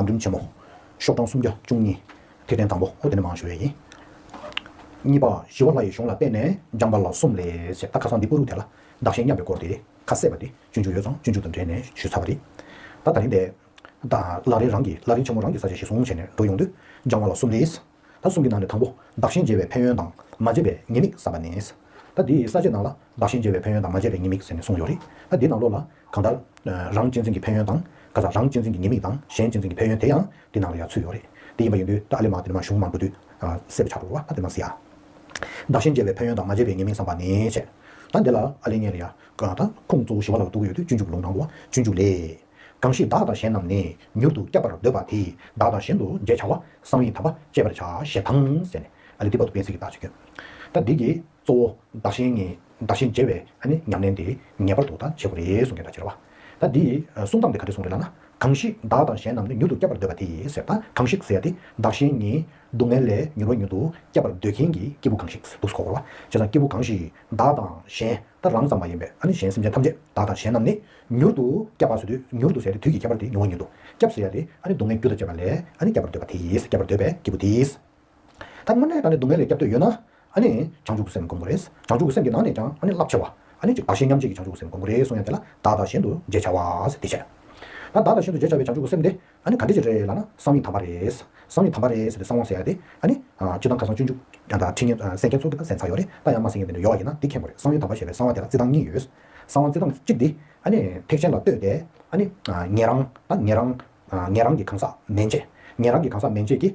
བང་རིམ་ཆེན་མོ། ཤོག་གྲངས་སུམ་བརྒྱ་བཅུ་གཉིས། ཐིག་ཕྲེང་དང་པོ་ཨོ་དེ་ནི་མང་ཞུ་བའི་ཡིན། གཉིས་པ། ཞི་བ་ལྷ་ཡི་གཞུང་ལ་བརྟེན་ནས་སྦྱངས་པ་ལ་གསུམ་ལས་བྱེད་ད་ཁ་སང་འདི་པུ་རུ་དེ་ལ་བདག་གཞན་མཉམ་པའི་སྐོར་དེ་ཁ་གསལ་བ་དེ་སྤྱོད་འཇུག་ཡོད་ཙང་སྤྱོད་འཇུག་དང་འབྲེལ་ནས་ཞུས་ཚར་བ་རེད། ད་ད་རིང་དེ། ལག་རིང་རང་གིས་ལག་རིང་ཆེན་མོ་རང་གིས་ས་བྱས་ཞེ་བཟུང་བྱས་ནས་འགྲོ་ཡོང་དུས་སྦྱང་བ་ལ་གསུམ་ལས། ད་གསུམ་གྱི་ནང་ནས་དང་པོ་བདག་གཞན་བརྗེ་བའི་ཕན་ཡོན་དང་མ་བརྗེ་བའི་ཉེས་དམིགས་བསམ་པ་ནས། ད་འདིའི་ས་བཅད་ནང་ལ་བདག་གཞན་བརྗེ་བའི་ཕན་ཡོན་དང་མ་བརྗེ་བའི་ཉེས་དམིགས་ཟེར་ནས་གསུངས་ཡོད་རེད། ད་འདི་ནང་ལོགས་ལ། གང་ལྟར། རང་གཅེས་འཛིན་གྱི་ཕན་ཡོན་དང། ཁ་ཚ་རང་གཅེས་འཛིན་གྱི་ཉེས་དམིགས་དང་གཞན་གཅེས་འཛིན་གྱི་ཕན་ཡོན་དེ་ཡང་འདི་ནང་ལ་ཡང་ཚུད་ཡོད་རེད། དེ་ཡིན་པ་ཡིན་དུས་ད་ཨ་ལས་མ་འདི་ནས་མ་གཞུང་མ་འགོད་དུས། གསལ་པོ་ཆགས་འགྲོ་བ་ད་དེ་མ་ཟེར་ཡ། བདག་གཞན་བརྗེ་བའི་ཕན་ཡོན་དང་མ་བརྗེ་བའི་ཉེས་དམིགས་བསམ་པ་ནས་བྱས། ད་འདི་ལ་ཨ་ལས་ཉན་རེ་ཡ། ད་ཁུངས་གཙོ་བོ་ཞི་བ་ལ་ལ་འདུག་གི་ཡོད་དུས་སྤྱོད་འཇུག་གི་ལུང་ནང་དུ་བ་སྤྱོད་འཇུག་ལས། གང་ཞིག་བདག་དང་གཞན་རྣམས་ནི་མྱུར་དུ་བསྐྱབ་པར་འདོད་པ་དེས་བདག་དང་གཞན་དུ་འབྲེལ་བྱ་བ་གསང་བའི་དམ་པ་བཅད་པར་བྱ་ཞེས་དང། ཟེར་ནས་ཨ་ལི་ཏི་པ་ཏུ་པའི་ཚིག་གི་བརྡ་ཆོས་ཁྱོད། ད་འདི་གྱིས་གཙོ་བོ་བདག་གཞན་གཉིས་བདག་གཞན་བརྗེ་བའི་ཉམས་ལེན་དེ་ངེས་པར་དུ་ད་བྱེད་དགོས་རེད་གསུང་གི་བརྡ་ཆོས་རེད་བ། ད་འདིས་གསུང་སྟངས་དེ་ག་འདྲས་གསུང་རེད་ལབ་ན། གང་ཞིག་བདག་དང་གཞན་རྣམས་ནི་མྱུར་དུ་བསྐྱབ་པར་འདོད་པ་དེས་ཟེར་དང་གང་ཞིག་ཟེར་ཏེ་བདག་གཞན་གཉིས་སྡུག་བསྔལ་ལས་མྱུར་བ་མྱུར་དུ་བསྐྱབ་པར་འདོད་མཁན་གྱི་སྐྱེས་བུ་གང་ཞིག་འདུག་གོ་བ། བྱས་ཙང་སྐྱེས་བུ་གང་ཞིག་བདག་དང་གཞན་ད་རང་ཙམ་མ་ཡིན་པས་ཨ་ནི་གཞན་སེམས་ཅན་ཐམས་ཅད་བདག་དང་གཞན་རྣམས་ནི། མྱུར་དུ་སྐྱབས་པར་བཟོད་དུས་མྱུར་དུ་ཟད་དེ་དུས་ཀྱི་ཁྱད་པར་དེ་མྱོང་བ་ཉིད་དོ། སྐྱབས་ཟེར་ཡ་དེ་ཨ་ནི་སྡུག་བསྔལ་རྒྱུ་དང་བཅས་པ་ལས་ཨ་ནི་སྐྱབས་པར་འདོད་པ་དེ་ཡིས་སྐྱབས་པར་འདོད་པའི་སྐྱེས་བུ་དེས། ད་སྔོན་ནས་ད་ནི་སྡུག་བསྔལ་ལས་སྐྱབས་འདོད་ཡོད་ན། ཨ་ནི་བྱང་ཆུབ་ཀྱི་སེམས་བསྒོམ་དགོས་རེད། བྱང་ཆུབ་ཀྱི་སེམས་ཀྱི་ནང་ནས་ཀྱང་ཨ་ནི་རླབས་ཆེ་བ། ཨ་ནི་གཅིག་བདག་གཞན་མཉམ་བརྗེས་ཀྱི་བྱང་ཆུབ་ཀྱི་སེམས་བསྒོམ་དགོས་རེད་གསུངས་ཡ་དེ་ལ་བདག་དང་གཞན་དུ་འཇལ་བྱ་བ། ད་བདག་དང་གཞན་དུ་འཇལ་བྱ་བའི་བྱང་ཆུབ་ཀྱི་སེམས་དེ། ཨ་ནི་ག་འདྲི་ཅི་རེད་ལ་ན་གསང་ཡིག་དམ་པ་རེད། གསང་ཡིག་དམ་པ་རེད་ཟེར་ཏེ་གསང་བ་ཟེར་ཡ་དེ། ཨ་ནི། སྤྱི་བཏང་ཁ་སང་སྤྱོད་འཇུག། ཡང་དག་ཁྲིད་ཉན། གསན་མཁན་ཚོ་དེ་ད་གསན་ཚར་ཡོད་རེད་ད་ཡང་མ་གསན་མཁན་དེ་འདྲ་ཡོད་བ་ཡིན་ན་དེ་མཁྱེན་དགོས་རེད་གསང་ཡིག་དམ་པ་ཞེས་པའི་གསང་བ་དེ་ལ་བརྩི་སྟངས་གཉིས་ཡོད། གསང་བ་བརྩི་སྟངས་གཅིག་འདི། ཨ་ནི། ཐེག་ཆེན་ལ་ལྟོས་ཏེ། ཨ་ནི། ངེད་རང། ད་ངེད་རང། ངེད་རང་གི་གང་ཟག་མན་ཆད། ངེད་རང་གི་གང་ཟག་མན་ཆད་ཀྱིས།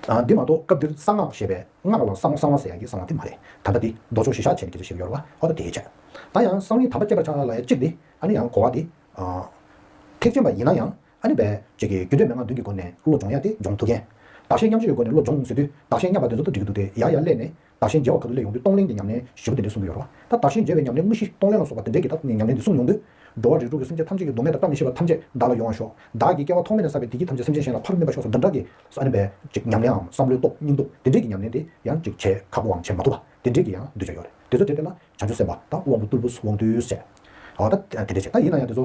འདི་མ་གཏོགས་སྐབས་འདིར་གསང་སྔགས་ཞེས་པའི་སྔགས་ལ་གསང་བ་གསང་བ་ཟེར་ཡང་ཡིན་གསང་བ་དེ་མ་རེད་དམ་པ་འདི་རྡོ་ཆོག་ཞེས་ཤ་ཆེན་གྱི་རྗེ་ཞིག་ཡོད་ལ་ཨོ་ད་དེའི་ཆེད་ད་ཡང་གསང་བའི་དམ་པ་སྐྱེས་པར་ཆགས་ལ་ཡ་གཅིག་འདི་ཨ་ནི་ཡང་གོ་བ་འདི་ཐེག་ཆེན་པ་ཡིན་ན་ཡང་ཨ་ནི་བས་ཅིག་གིས་རྒྱུད་འགྲེལ་མན་ངག་བདུན་གྱི་སྒོ་ནས་བློ་སྦྱོང་ཡ་དེ་སྦྱོང་ཐུབ་མཁན་བདག་གཞན་མཉམ་བཞི་ཡོད་སྒོ་ནས་བློ་སྦྱོང་ཟེར་དུས་བདག་གཞན་མཉམ་པ་དེ་ཚོ་དུ་འགྲིག་གི་འདུག་སྟེ་ཡ་ཡ་གླས་ནས། དག་ཞིང་མཇལ་བ་ག་དུས་ལས་ཡོང་དུས་གཏོང་ལེན་གྱི་ཉམས་ལེན་བཞི་པོ་འདི་འདྲས་གསུངས་ཀྱི་ཡོད་རེད་བ། ད་དག་ཞིང་མཇལ་བའི་ཉམས་ལེན་དངོས་གཞི་གཏོང་ལེན་ལ་སོགས་པ་འདི་འདྲས་ཀྱི་ཐབས་ནས་ཉམས་ལེན་འདི་གསུངས་མྱོང་དུས། འགྲོ་བ་རིགས་དྲུག་གི་སེམས་ཅན་ཐམས་ཅད་ཀྱི་སྡུག་བསྔལ་དང་བཀྲ་མི་ཤིས་པ་ཐམས་ཅད་བདག་ལ་ཡོང་བ་ཤོག། བདག་གིས་སྐྱེ་བ་ཐོག་མེད་ནས་བསགས་པའི་བདེ་སྐྱིད་ཐམས་ཅད་སེམས་ཅན་གཞན་ལ་ཕར་སྨིན་པ་ཤོག་སོགས་འདི་འདྲ་གི། ཨཱ་ནི་བས། ཉམས་ལེན་འམ་བསམ་བློའི་སྟོབས་སྙིང་སྟོབས་འདི་འདྲས་ཀྱི་ཉམས་ལེན་འདི་ཡང་ཅིག་བྱས་ཁག་པོའམ་བྱེད་མ་ཐུབ་པ་འདི་འདྲས་ཀྱི་ཡང་འདུས་བྱས་ཡོད་རེད་དེ་ཚོ་དེ་ལྟས་ན་བྱང་ཆུབ་སེམས་དཔའ་དང་དབང་པོ་རྟུལ་པོས་དབང་བསྡུས་བྱས། ཨ་ད་དེ་འདྲས་བྱས་ད་ཡིན་ན་ཡང་དེ་ཚོ་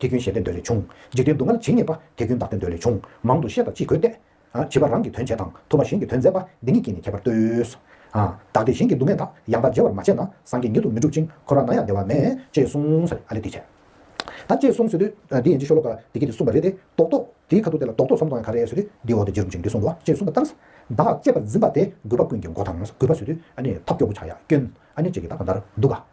དེ་རྒྱུན་ཞེས་བསྟན་འདོད་ལས་བྱུང། འཇིག་རྟེན་སྡུག་བསྔལ་ཇི་སྙེད་པ། དེ་རྒྱུན་བདག་བསྟན་འདོད་ལས་བྱུང། མང་དུ་ཤེས་དང་ཅི་དགོས་བལྟས། བྱིས་པ་རང་གིས་དོན་བྱས་དང། ཐུབ་པ་གཞན་གྱིས་དོན་མཛད་པ། འདི་ཉིད་ཀྱིས་ནི་ཁྱད་པར་ལྟོས། བདག་གིས་གཞན་གྱི་སྡུག་བསྔལ་དག། ཡང་དག་འཇལ་བར་མ་བྱས་ན། སངས་རྒྱས་ཉིད་དུ་མི་འགྲུབ་ཅིང། འཁོར་བ་ན་ཡང་བདེ་བ་མེད། ཅེས་གསུངས། ཨ་ལས་འདི་བྱས། ད་ཅེས་གསུངས། ཟོས་དུས། འདི་ཡན་ཅིག་ཤོ་ལོ་ཀ། བདེ་སྐྱིད་འདི་གསུངས་པ་རེད་དེ། རྡོག་རྡོག། དེའི་ཁ་ཐུག་དེ་ལ་རྡོག་རྡོག་ཟོམ་གཏོང་ཡང་ག་རེ་ཟོས་དུས། འདིའི་འོག་ཏུ་རྗེ་རུ་འཇུག་འདི་གསུངས་འདུག་ཅེས་གསུངས་པ་ལྟར། བདག་ལ་གཅེས་པར་འཛིན་པ་དེ། རྒུད་པ་ཀུན་གྱི་མགོ་དང། རྒུད་པ་ཟོས་དུས། ཨ་ནི་ཐབས་སྐྱོ་བོ་ཆགས་ཡ་སྐྱོན། ཨ་ནི་ཅི་གི་ད་ག་འདར་འདུག་ག།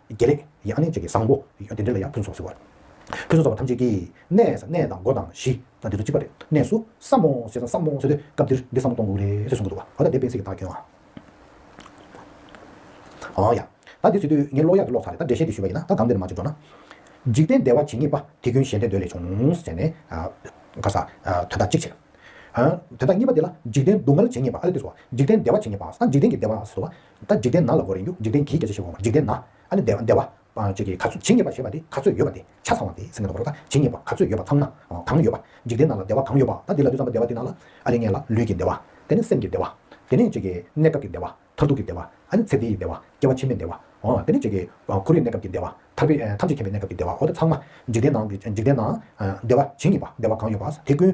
དགེ་ལེགས། ཡང་ནི་གཅིག་གིས་བཟང་པོ། དེ་འདྲས་ལ་ཡང་ཕུན་སོགས་ཟེར་བར། ཕུན་སོགས་བ་ཐམས་ཅད་ཀྱིས། གནས། གནས་དང་སྒོ་དང་གཞི། འདི་ཚོ་གཅིག་པ་རེད། གནས་སུ། བསམ་མོ། ཟེར་ན་བསམ་མོ་ཟེར་དུས་སྐབས་འདིར་འདི་བསམ་བློ་གཏོང་དགོས་རེད་ཟེར་གསུང་གི་འདུག་བ། འོ་ད་འདི་སྤེན་ཚེ་གི་དག་གྱོན་ཨ། འོ་ཡ། ད་འདི་ཚུད་དུས་ངས་གློག་ཡག་གི་གློག་ཚ་རེད་ད་འགྲེལ་བཤད་འདི་ཞུས་པ་ཡིན་ན་ད་གང་འདི་ནས་མ་བྱེད་འགྲོ་ན། འཇིག་རྟེན་བདེ་བ་ཇི་སྙེད་པ། དེ་རྒྱུན་གཞན་དོན་འདོད་ལས་བྱུང། ཟེར་ནས། ག་ས། དོན་དག་གཅིག་བྱེད། དོན་དག་གཉིས་པ་འདི་ལ་འཇིག་རྟེན་སྡུག་བསྔལ་ཇི་སྙེད་པ་ཨ་ལེ་འདི་བཟོ་བ། འཇིག་རྟེན་བདེ་བ་ཇི་སྙེད་པ་ས་འཇིག་རྟེན་གྱི་བདེ་བ་ཟེར་བ། ད་འཇིག་རྟེན་ན་ལ་གོ་རེ་འགྱུ་འཇིག་རྟེན་གྱིས་བརྒྱ་ཆ་བཞི་འོང་བ་འཇིག་རྟེན་ན་ཨ་ནི་བདེ་བ། བཅས་ཀྱི་ག་ཚོད་ཇི་སྙེད་པ་ཞེས་པ་དེ་ག་ཚོད་ཡོད་པ་དེ་ཆ་ཚང་བ་དེ་ཟེར་ནས་འདུག་གོ་རོགས་ད་ཇི་སྙེད་པ་ག་ཚོད་ཡོད་པ་ཚང་ན་གང་ཡོད་པ། འཇིག་རྟེན་ན་ལ་བདེ་བ་གང་ཡོད་པ་ད་འདི་ལ་དུས་ཙམ་པ་བདེ་བ་དེ་ན་ལ་ཨ་རེ་ངན་ལ་ལུས་ཀྱི་བདེ་བ། དེ་ནས་སེམས་ཀྱི་བདེ་བ། དེ་ནས་བཅས་ཀྱི་གནས་སྐབས་ཀྱི་བདེ་བ་མཐར་ཐུག་གི་བདེ་བ་ཨ་ནི་ཚེ་འདི་ཡི་བདེ་བ་སྐྱེ་བ་ཕྱི་མའི་བདེ་བ། དེ་ནས་བཅས་ཀྱི་འཁོར་རིགས་གནས་སྐབས་ཀྱི་བདེ་བ་ཐར་པའི་ཐམས་ཅད་མཁྱེན་པའི་གནས་སྐབས་ཀྱི་བདེ་བའོ་ད་ཚང་མ་འཇིག་རྟེན་ན་འཇིག་རྟེན་ན་བདེ་བ་ཇི་སྙེད་པ་བདེ་བ་གང་ཡོད་པ་དེ་ཀུན།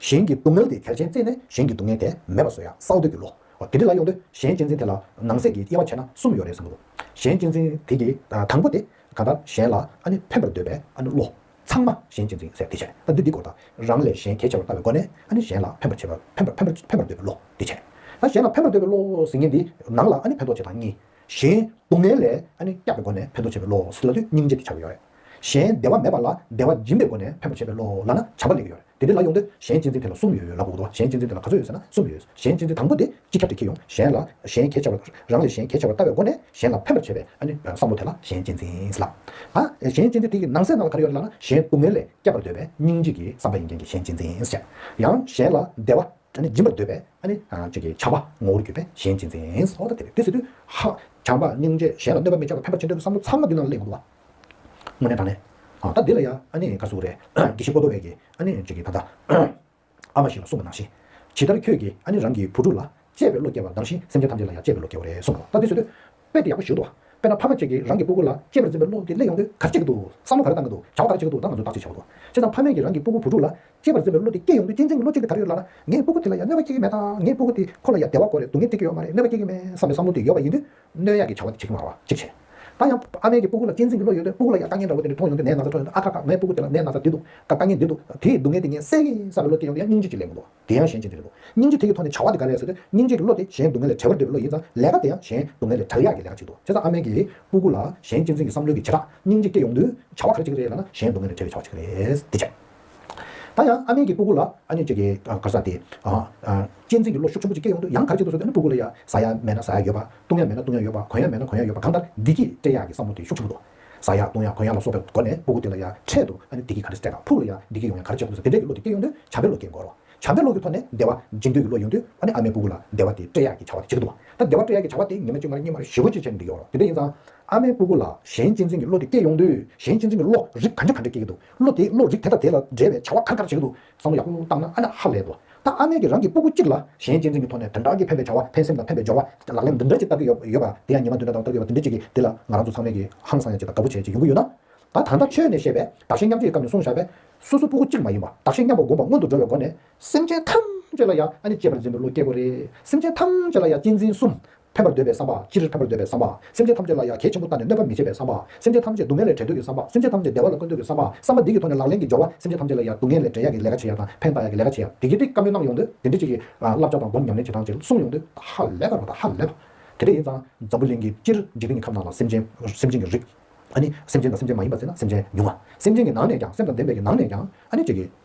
གཞན་གྱི་སྡུག་བསྔལ་དེ་གལ་ཆེན་བརྩིས་ནས་གཞན་གྱི་སྡུག་བསྔལ་དེ་མེད་པར་བཟོ་ཡག་སའོ་འདོད་ཀྱི་ལོ། དེ་འདྲི་ལ་ཡོང་དུས་གཞན་གཅེས་འཛིན་དེ་ལ་ནང་གསེས་ཀྱི་དབྱེ་བ་ཕྱེ་ན་གསུམ་ཡོད་རེད་བསམ་མོ། གཞན་གཅེས་འཛིན་དེ་གི་དང་པོ་དེ་གང་ལྟར་གཞན་ལ་ཕན་པར་འདོད་པའི་བློ། ཚང་མ་གཞན་གཅེས་འཛིན་ཟེར་དེ་བྱས་ན་འདི་འདི་སྐོར་དང། རང་ལས་གཞན་གལ་ཆེ་བར་ལྟ་བའི་སྒོ་ནས་གཞན་ལ་ཕན་པར་བྱེད་པ་ཕན་པར་འདོད་པའི་བློ་དེ་བྱས། གཞན་ལ་ཕན་པར་འདོད་པའི་བློ་ཟེར་ཉིན་དེའི་ནང་ལ་ཕན་ཐོགས་བྱེད་དང་གཉིས། གཞན་སྡུག་བསྔལ་ལས་སྐྱབས་པའི་སྒོ་ནས་ཕན་ཐོགས་བྱེད་པའི་བློ་ཟེར་ལ་དུས་སྙིང་རྗེ་དེ་ཆགས་ཀྱི་ཡོད་རེད། གཞན་བདེ་བ་མེད་པ་ལ་བདེ་བ་སྦྱིན་པའི་སྒོ་ནས་ཕན་པར་བྱེད་པའི་བློ་ལ་ན་བྱ་བ་ལས་ཡོད་རེད་དེ་འདི་ལ་ཡོང་དུས་གཞན་གཅེས་འཛིན་དེ་ལ་གསུམ་ཡོད་ལ་གོ་དགོས་གཞན་གཅེས་འཛིན་དེ་ལ་ག་ཚོད་ཡོད་ཟེར་ན་གསུམ་ཡོད་གཞན་གཅེས་འཛིན་དང་པོ་དེ་སྤྱི་ཁྱབ་ཏུ་ཁྱེད་ཡོང་གཞན་ལ་གཞན་གྱེས་བྱ་བ་རང་ལས་གཞན་གྱེས་བྱ་བར་ལྟ་བའི་སྒོ་ནས་གཞན་ལ་ཕན་པར་བྱེད་པའི་བསམ་བློ་དེ་ལ་གཞན་གཅེས་འཛིན་ཟེར་ལ། གཞན་གཅེས་འཛིན་དེ་ཡི་ནང་གསེས་ནང་ལ་ག་རེ་ཡོད་རེད་ལ་ན་གཞན་སྡུག་བསྔལ་ལས་བསྐྱབ་པར་འདོད་པའི་སྙིང་རྗེ་གི་བསམ་པ་ཡིན་རྐྱེན་གྱི་གཞན་གཅེས་འཛིན་བྱེད། ཡང་གཞན་ལ་བདེ་བ་སྦྱིན་པར་འདོད་པའི་བྱ་བ་ངོ་བོར་གྱུར་པས་གཞན་གཅེས་འཛིན། བྱམས་པ་སྙིང་རྗེས་གཞན་ལ་གནོད་པ་མི་བྱ་བར་ཕན་པར་བྱེད་འདོད་པའི་བསམ་བློ་ཚང་མ་འདི་ནང་ལ་གླེང་དགོས་པ། དངོས་གནས་དང་ལེན། ད་འདི་ལ་ཡང་ཨ་ནེ་ཀ་སུ་རེ་གི་ཤི་ཀོ་ཏོ་རེ་གི་ཨ་ནེ་ཅིག་གི་ད་ལྟ་ཨ་མ་ཞིག་ལ་གསུངས་པ་ནང་བཞིན། ཇི་ལྟར་ཁྱོད་ཀྱིས་ཨ་ནེ་རང་གི་བུ་ཕྲུག་ལ་གཅེས་པའི་བློ་སྐྱེ་བ་གདམས་ཤིང་སེམས་ཅན་ཐམས་ཅད་ལ་ཡང་གཅེས་པའི་བློ་སྐྱེ་བོ་རེད་གསུངས་པ་ལ་ད་འདི་བཟོད་དུས་དཔེ་དེ་ཡག་པོ་ཞིག་འདུག་དཔེར་ན་ཕ་མ་ཅིག་གིས་རང་གི་སྤུ་གུ་ལ་གཅེས་པར་འཛིན་པའི་བློ་འདི་སླེབས་ཡོང་དུས་ག་རེ་བྱེད་ཀྱི་འདུག་བསམ་བློ་ག་རེ་བཏང་གི་འདུག་བྱ་བ་ག་རེ་བྱེད་ཀྱི་འདུག་ད་ང་ཚོས་བདག་གཅེས་བྱ་བ་དང་ཅི་ཙམ་ཕ་མེས་ཀྱིས་རང་གི་སྤུ་གུ་བུ་ཕྲུག་ལ་གཅེས་པར་འཛིན་པའི་བློ་འདི་སྐྱེས་ཡོང་དུས་གཅེས་འཛིན་གྱི་བློ་སྐྱེ་གི་ག་རེ་ཡོད་ལ་ལ་ངའི་སྤུ་གུ་དེ་ལ་ཡང་གནོད་པ་སྐྱེལ་གྱི་མེད་དང་ངའི་སྤུ་གུ་དེ་ཁོ་ལ་ཡང་བདེ་བ་གོ་རེ་སྡུག་བསྔལ་སྐྱེལ་གྱི་ཡོད་མ་རེད་གནོད་པ་སྐྱེལ་གྱི་མེད་བསམ་པའི་བསམ་བློ་དེ་ཡོད་པ་ཡིན་དུས། སྣོད་ཡག་གི་བྱ་བ་འདི་བྱེད་ཀྱི་མ་རེད་བ་གཅིག་བྱས། ད་ཡང། ཨ་མའི་གི་སྤུ་གུ་ལ་གཅེས་འཛིན་གི་བློ་ཡོད་དུས་སྤུ་གུ་ལ་ཡང་དཀའ་ངལ་འདྲ་བོ་དེ་འདྲ་མཐོང་ཡོང་དུས་མའི་ན་ཚ་འཕྲོད་ཡོང་དུས་ཨ་ཁ་ཁ་མའི་སྤུ་གུ་དེ་ལ་མའི་ན་ཚ་འདི་འདུག་དཀའ་དཀའ་ངལ་འདི་འདུག་དེ་ཡི་སྡུག་ངལ་དེ་ངས་སེལ་གི་ས་རེད་བློ་དེ་ཡོང་དུས་ཡང་སྙིང་རྗེ་གཅིག་ལས་མི་འདུག་དེ་ཡང་གཞན་གཅིག་འདི་རེད་འདུག་སྙིང་རྗེ་དེ་གི་ཐོག་ནས་བྱ་བ་འདི་ག་རེད་ཟེར་དུས་སྙིང་རྗེ་གི་བློ་དེ་གཞན་སྡུག་ངལ་ལས་བྲལ་བར་འདོད་པའི་བློ་ཡིན་ཙང་ལས་ཀ་དེ་ཡང་གཞན་སྡུག་ངལ་ལས་བྲལ་ཡག་གི་ལས་ཀ་ཅིག་འདུག་བྱས་ཙང་ཨ་མའི་གི་སྤུ་གུ་ལ་གཞན་གཅེས་འཛིན་གི་བསམ་བློའི་གི་བྱེ་བྲག་སྙིང་རྗེ་སྐྱེ་ཡོང་དུས་བྱ་བ་ག་རེ་བྱེད་ཀྱི་རེད་ལབ་ན་གཞན་སྡུག་ངལ་ལས་བྲལ་བའི་བྱ་བ་ཅིག་རེད་འདི་བྱས། ད་ཡང་ཨ་མེས་ཀྱི་སྤུ་གུ་ལ་ཨ་མྱོས་ཅེས་ཀྱི་གར་ས་དེས། གཅེས་འཛིན་གྱི་བློ་ཤུགས་ཆེན་པོ་ཅིག་སྐྱེས་ཡོང་དུས་ཡང་གར་བྱེད་དུ་གསོལ་ཏེ་ཨ་ནུ་སྤུ་གུ་ལ་ཡ་ཟ་ཡ་མེད་ན་ཟ་ཡ་ཡོད་པ། བཏུང་ཡ་མེད་ན་བཏུང་ཡ་ཡོད་པ་གོན་ཡ་མེད་ན་གོན་ཡ་ཡོད་པ་གང་ལྟར་བདེ་སྐྱིད་སྤྲད་ཡ་གི་བསམ་བློ་དེ་ཤུགས་ཆེན་པོ་འདུག་ཟ་ཡ་བཏུང་ཡ་གོན་ཡ་ལ་སོགས་པའི་སྒོ་ནས་སྤུ་གུ་དེ་ལ་ཡ་འཕྲད་དུ་ཨ་ནུ་བདེ་སྐྱིད་ག་རེ་སྤྲད་དང་ཕུག་ལ་ཡ་བདེ་སྐྱིད་ཡོང་ཡ་གར་བྱེད་དུ་གསོལ་དེ་འདྲའི་གི་བློ་དེ་སྐྱེས་ཡོང་དུས་བྱམས་པའི་བློ་སྐྱེ་དགོས་རོགས་བྱམས་པའི་བློ་གི་ཐོག་ནས་བདེ་བ་སྦྱིན་འདོད་ཀྱི་བློ་ཡོང་དུས་ཨ་ནི་ཨ་མའི་སྤུ་གུ་ལ་བདེ་བ་དེ་སྤྲད་ཡ་གི་བྱ་བ་དེ་བྱེད་ཀྱི་འདུག་ད་བདེ་བ་སྤྲད་ཡ་གི་བྱ་བ་དེ་ཉི་མ་གཅིག་མར་གཉིས་མར་བཞི་བ་བཅུ་བྱས་ནས་འགྲིག་ཡོང་རོགས་དེ་འདྲ་ཡིན་ཙང་ཨ་མའི་སྤུ་གུ་ལ་གཞན་གཅེས་འཛིན་གྱི་བློ་དེ་སྐྱེས་ཡོང་དུས་གཞན་གཅེས་འཛིན་གྱི་བློ་རིགས་ག་འདྲ་ག་འདྲ་སྐྱེ་གི་འདུག་བློ་དེས་བློ་རིག་དེ་དང་དེ་ལ་འབྲེལ་བའི་བྱ་བ་ཁ་ཁར་བྱེད་དུ་བསམ་བློ་ཡག་པོ་བཏང་ན་ཨ་མྲ་ཧ་ལས་འགྲོ། ད་ཨ་མས་ཀྱིས་རང་གི་སྤུ་གུ་གཅིག་ལ་གཞན་གཅེས་འཛིན་གྱི་ཐོག་ནས་དོན་དག་གིས་ཕན་པའི་བྱ་བ་ཕན་སེམས་དང་ཕན་པའི་སྦྱོར་བ་ལག་ལེན་འདི་འདྲ་ཅིག་བསྟར་གྱི་ཡོད་པ་དེ་ཡང་ཉི་མ་དུས་འདྲ་དང་སྟོབས་ཡོད་པ་འདི་འདྲ་ཅིག་གིས་དེ་ལ་ང་རང་ཚོ་ཚང་མས་ཀྱིས་ཧང་སང་ཡང་ཅིག་དང་དགའ་པོ་བྱེད་ཅིག་ཡོང་གི་ཡོད་ན། ད་ད་ལྟ་ཁྱོད་ནས་བཤད་པའི་བདག་གཞན་མཉམ་བརྗེ་ཡི་སྐབས་ནས་སོང་བཞག་པས། སོ་སོ་སྤུ་གུ་གཅིག་མ་ཡིན་པ་བདག་གཞན་མཉམ་པ་སྒོམ་པ་སྔོན་དུ་འགྲོ་བའི་སྒོ་ནས། སེམས་ཅན་ཐམས་ཅད་ལ་ཡང་ཨ་ནི་གཅེས་པར་འཛིན་པའི་བློ་སྐྱེ་དགོས་རེད། སེམས་ཅན་ཐམས་ཅད་ལ་ཡང་གཅེས་འཛིན་གསུམ་ཕན་པར་འདོད་པའི་བསམ་པ། སྤྱིར་ཕན་པར་འདོད་པའི་བསམ་པ། སེམས་ཅན་ཐམས་ཅད་ལ་ཡ་གྱལ་ཆེན་པོ་བལྟ་ནས་གནོད་པ་མི་བྱེད་པའི་བསམ་པ། སེམས་ཅན་ཐམས་ཅད་སྡུག་བསྔལ་ལས་བྲལ་འདོད་ཀྱི་བསམ་པ། སེམས་ཅན་ཐམས་ཅད་བདེ་བ་ལ་བཀོད་འདོད་ཀྱི་བསམ་པ། བསམ་པ་འདི་གི་ཐོག་ནས་ལག་ལེན་གྱི་སྦྱོར་བ། སེམས་ཅན་ཐམས་ཅད་ལ་ཡ་སྡུག་བསྔལ་ལས་བྲལ་ཡ་གི་ལས་ཀ་བྱེད་ཡ་དང་ཕན་བཏགས་ཡ་གི་ལས་ཀ་བྱེད་ཡ། དེ་གྱིས་དེ་བཀའ་མོལ་གནང་ཡོང་དུས་དེ་འདྲི་གཅིག་གིས། བསླབ་བྱ་དང་སྒོམ་ཉམས་ལེན་བྱེད་སྟངས་བཅས་གསུངས་ཡོང་དུས། ཧ་ལས་པར་རོ་ད་ཧ་ལས་པ། དེ་འདྲ་ཡིན་ཙང། འཛམ་བུ་གླིང་གི་སྤྱིར་འཇིག་རྟེན་གྱི་ཁམས་ནང་ལ་སེམས་ཅན། སེམས་ཅན་གྱི་རིགས། ཨཱ་ནི། སེམས་ཅན་དང་སེམས་ཅན་མ་ཡིན་པ་བཙལ་ན་སེམས་ཅན་ཉུང་ང། སེམས་ཅན་གྱི་ནང་ནས་ཀྱང་སེམས་དང་ལྡན་པའི་གྱི་ནང་ནས་ཀྱང། ཨཱ་ནི། ཅིག་གིས།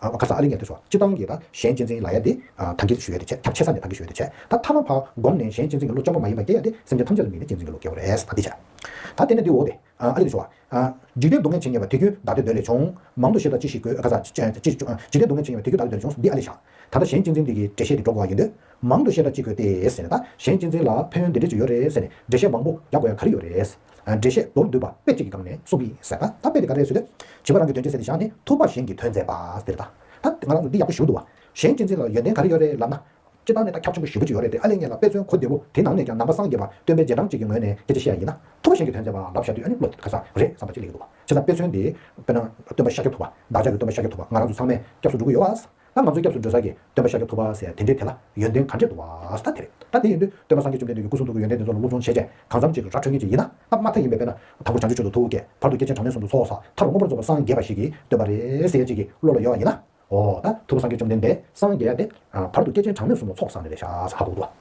ཁ་སང་ཨ་རི་ཉེར་བདུན་སོགས་སྤྱི་བཏང་གི་དང་གཞན་གཅེས་འཛིན་ལ་ཡ་དེ། ཐང་གའི་དུ་ཞུ་ཡ་དེ་ཆད་ཁྱབ་ཆེ་ས་ནས་ཐང་གའི་ཞུ་ཡ་དེ་ཆད། ད་ཐ་མ་བར་སྒོམ་ནས་གཞན་གཅེས་འཛིན་གྱི་ལོ་བཅོ་ལྔ་མ་ཡིན་པ་དེ་ཡ་དེ་སེམས་ཅན་ཐམས་ཅད་ལ་དམིགས་ནས་གཅེས་འཛིན་གྱི་ལོ་བརྒལ་བ་རེད་ད་འདི་ཆད། ད་དེ་ནས་འདི་འོ་དེ། ཨ་རི་དུ་ཞུ་བ། འཇིག་རྟེན་སྡུག་བསྔལ་བྱེད་ངེས་པ་དེ་རྒྱུན་བདག་འདོད་འདོད་ལས་བྱུང། མང་དུ་ཤེས་དང་ཅི་ཞིག་དགོས། ཁ་སང། འཇིག་རྟེན་སྡུག་བསྔལ་བྱེད་ངེས་པ་དེ་རྒྱུན་བདག་འདོད་འདོད་ལས་བྱུང་ཟིན་འདི་ཨ་ལས་བཞག། ད་ལྟ་གཞན་གཅེས་འཛིན་འདི་གི་འགྲེལ་བཤད་འདི་འགྲོ་དགོས་བ་ཡིན་དུས། མང་དུ་ཤེས་དང་ཅི་དགོས་ཏེ་ཟེར་ནས་ད་གཞན་གཅེས་འཛིན་ལ་ཕན་ཡོན་འདི་འདྲས་ཅིག་ཡོད་རེད་ཟེར་ནས་འགྲེལ་བཤད་མང་པོ་རྒྱག་དགོས་ཡ་ག་རེ་ཡོད་རེད། འགྲེལ་བཤད་མདོར་བསྡུས་པ་དཔེ་གཅིག་གི་སྒང་ནས་གསུང་གིས་ཟད་པ་ད་དཔེ་དེ་ག་རེད་ཟེར་དུས། བྱིས་པ་རང་གི་དོན་སྤྱི་ཚེ་འདི་བཞག་ནས་ཐུག་པ་གཞན་གྱི་དོན་མཛད་པ་ཟེར་ད། ད་ང་རང་ཚོ་འདི་ཡག་པོ་ཞུ་འདུག་བ། གཞན་སྤྱི་ཚེ་ལ་ཡོན་ཏན་ག་རེ་ཡོད་རེད་ལབ་ན། སྤྱི་བཏང་ནས་ད་ཁྱབ་ཆེན་པོ་ཞིག་བུ་ཅིག་ཡོད་རེད་དེ་ཨ་ལས་ངེད་ལ་དཔེ་མཚོན་གོ་བདེ་བོ་དེ་ནང་ནས་ཀྱང་ནང་པ་སངས་རྒྱས་པ་སྟོན་པའི་རྗེས་འབྲང་ཅིག་གི་ངོས་ནས་སྐད་ཆ་བཤད་ཡ་ཡིན་ན། ཐུག་པ་གཞན་གྱི་དོན་མཛད་པ་ལབ་བཞག་དུས་ཨ་ནི་བློ་ག་ས་རེད་བསམ་པ་ཅིག་ལས་ཡོད་འདུག་བ། བྱས་ཙང་དཔེ་མཚོན་དེ་དཔེར་ན་སྟོན་པ་ཤཱཀྱ་ཐུབ་པ་བདག་ཅག་གི་སྟོན་པ་ཤཱཀྱ་ཐུབ་པ་ང་རང་ཚོ་ཚང་མས་སྐྱབས་སུ་འགྲོ་གི་ཡོད་བ། ད་ང་ཚོའི་སྐྱབས་སུ་འགྲོ་ས་ཀྱི་སྟོན་པ་ཤཱཀྱ་ཐུབ་པ་ཟེར་དེ་འདྲས་དེ་ལ་ཡོན་ཏན་ག་འདྲས་འདུག་བ་ས་དེ་རེད། ད་དེ་ཡིན་དུས་སྟོན་པ་སངས་རྒྱས་བཅོམ་ལྡན་འདས་ཀྱི་སྐུ་གསུང་ཐུགས་ཀྱི་ཡོན་ཏན་དེ་ཚོ་ལ་སློབ་སྦྱོང་བྱེད་ཆེད་གང་འཚམ་ཅིག་ར་འཕྲོད་མཁན་ཅིག་ཡིན་ན་ད་མ་མཐའ་ཡིན་པའི་དཔེ་ན་དང་པོར་བྱང་ཆུབ་ཆོས་སུ་ཐུགས་བསྐྱེད་བར་དུ་སྐྱེས་ཆེན་གྲངས་མེད་ཟུང་དུ་ཚོགས་ས་མཐར་མངོན་པར་རྫོགས་པར་སངས་རྒྱས་པ་ཞིག་གིས་སྟོན་པ་རེད་ཟེར་ཅིག་གི་བློ་ལ་ཡོད་བ་ཡིན་ན། འོ་ད་ཐུབ་པ་སངས་རྒྱས་བཅོམ་ལྡན་འདས་སངས་རྒྱས་ཏེ། བར་དུ་སྐྱེས་ཆེན་གྲངས་མེད་གསུམ་ལ་ཚོགས་བསགས་ནས་རེད་ཤ་ཟ་ཧ་གོ་དགོས་ལ།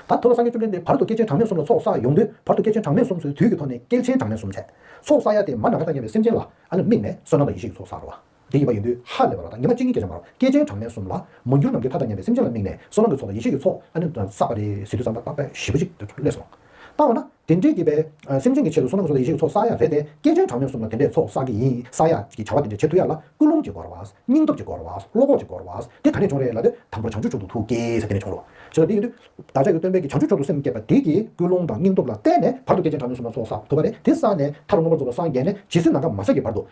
ད་ཐུབ་པ་སངས་རྒྱས་བཅོམ་ལྡན་འདས་བར་དུ་སྐྱེས་ཆེན་གྲངས་མེད་གསུམ་ལ་ཚོགས་བསགས་ཡོང་དུས་བར་དུ་སྐྱེས་ཆེན་གྲངས་མེད་གསུམ་ཚོའི་དུས་ཀྱི་ཐོག་ནས་སྐྱེས་ཆེན་གྲངས་མེད་གསུམ་ཚད་ཚོགས་བསགས་ཡ་དེ་མ་ན་ག་ད་མཉམ་པའི་སེམས་ཅན་ལ་ཨ་ལ་དམིགས་ནས་བསོད་ནམས་དང་ཡེ་ཤེས་ཀྱི་ཚོགས་བསགས་འགྲོ་བ། དེ་ཡིན་པ་ཡིན་དུས་ཧ་ལས་པ་ལ་དང་ཉི་མ་གཅིག་གཉིས་བརྒྱ་ཆ་མར་སྐྱེས་ཆེན་གྲངས་མེད་གསུམ་ལ། མ་འགྱུར་ནམ་མཁའི་མཐའ་ལྟར་མཉམ་པའི་སེམས་ཅན་ལ་དམིགས་ནས་བསོད་ནམས་ཀྱི་ཚོགས་ལ་ཡེ་ཤེས་ཀྱི་ཚོགས་ཨ་ནི་བསགས་པ་རེད་ཟེར་དུས་སམ་བརྟག་པའི་གཞི་པོ་གཅིག་ཏུ་གྱུར་ལེ་སོང། བརྟག་པ་ན་དེ་འདྲའི་སྐྱེས་པའི་སེམས་ཅན་གྱི་ཆེད་དུ་བསོད་ནམས་ཀྱི་ཚོགས་ལ་ཡེ་ཤེས་ཀྱི་ཚོགས་བསགས་ཡ་རེད་དེ་སྐྱེས་ཆེན་གྲངས་མེད་གསུམ་ལ་དེ་འདྲའི་ཚོགས་བསགས་ཀྱི་ཡིན་བསགས་ཡ་ཀྱི་བྱ་བ་དེ་འདྲ་བྱེད་ཐུབ་ཡ་ལ་ཀུན་སློང་གི་སྒོར་བ། སྙིང་སྟོབས་ཀྱི་སྒོར་བ། བློ་ཁོག་གི་སྒོར་བ། དེ་ག་ནས་བྱུང་རེད་ལབ་དུས་དང་པོར་བྱང་ཆུབ་ཆུང་དུ་ཐུགས་བསྐྱེད་ཟེར་དེ་ནས་བྱུང་རོགས། བྱས་ཙང་དེ་ཡིན་དུས། བདག་ཅག་གི་སྟོན་པས་ཀྱི་བྱང་ཆུབ་ཆུང་དུ་སེམས་བསྐྱེད་པ་དེ་ཀྱིས་ཀུན་སློང་དང་སྙིང་སྟོབས་ལ་བརྟེན་ནས་བར་དུ་སྐྱེས་ཆེན་གྲངས་མེད་གསུམ་ལ་ཚོགས་བསགས་ཐུབ་པ་རེད་དེ་བསགས་ནས་མཐར་མངོན་པར་རྫོགས་པར་སངས་རྒྱས་ནས་ཇི་སྲིད་ནམ་མཁའ་མ་སྲིད་ཀྱི་བར་དུ།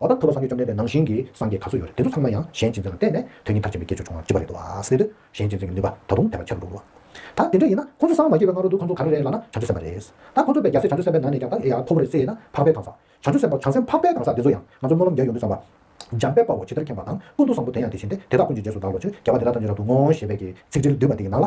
འོ་ད་ཐུབ་པ་སངས་རྒྱས་བཅོམ་ལྡན་འདས་ནང་བཞིན་གྱི་སངས་རྒྱས་ག་ཚོད་ཡོད་རེད་དེ་ཚོ་ཚང་མ་ཡང་གཞན་གཅེས་འཛིན་ལ་བརྟེན་ནས་དོན་གཉིས་མཐར་ཕྱིན་པའི་དགེ་ཆོས་བྱུང་བར་བགྱི་བ་རེད་དོ་ཨཱ་སེ་འདོད་གཞན་གཅེས་འཛིན་གྱི་ནུས་པ་ད་དུང་དེ་ལྟར་ཆེ་རུ་འགྲོ་འགྲོ། ད་དེ་འདྲ་ཡིན་ན་ཁོང་ཚོ་སངས་མ་རྒྱས་པའི་སྔ་རོལ་དུ་ཁོང་ཚོ་ག་རེ་རེད་ལ་ན་བྱང་ཆུབ་སེམས་པ་རེད། ད་ཁོང་ཚོ་པས་རྒྱ་སེ་བྱང་ཆུབ་སེམས་པའི་ནང་ནས་ཀྱང་ད་ཨེ་ཡ་ཁོ་བོ་རེད་ཟེར་ཡས་ན་འཕགས་པའི་གང་ཟག་བྱང་ཆུབ་སེམས་དཔའ་བྱང་སེམས་འཕགས་པའི་གང་ཟག་དེ་ཚོ་ཡང་ང་ཚོ་སྨོན་ལམ་རྒྱ་ཡོང་དུས་བསམ་པ། འཇམ་དཔལ་དཔའ་བོ་ཇི་ལྟར་མཁྱེན་པ་དང་ཀུན་ཏུ་བཟང་པོ་དེ་ཡང་དེ་བཞིན་ཏེ་དེ་དག་ཀུན་གྱི་རྗེས་སུ་བདག་ལོ་ཆོས་རྒྱལ་བ་དེ་དག་ཐམས་ཅད་རབ་ཏུ་བསྔོ་ཞེས་པའི་གི་ཚིག་འབྲེལ་བསྡུས་པ་དེ་ཡི་ནང་ལ།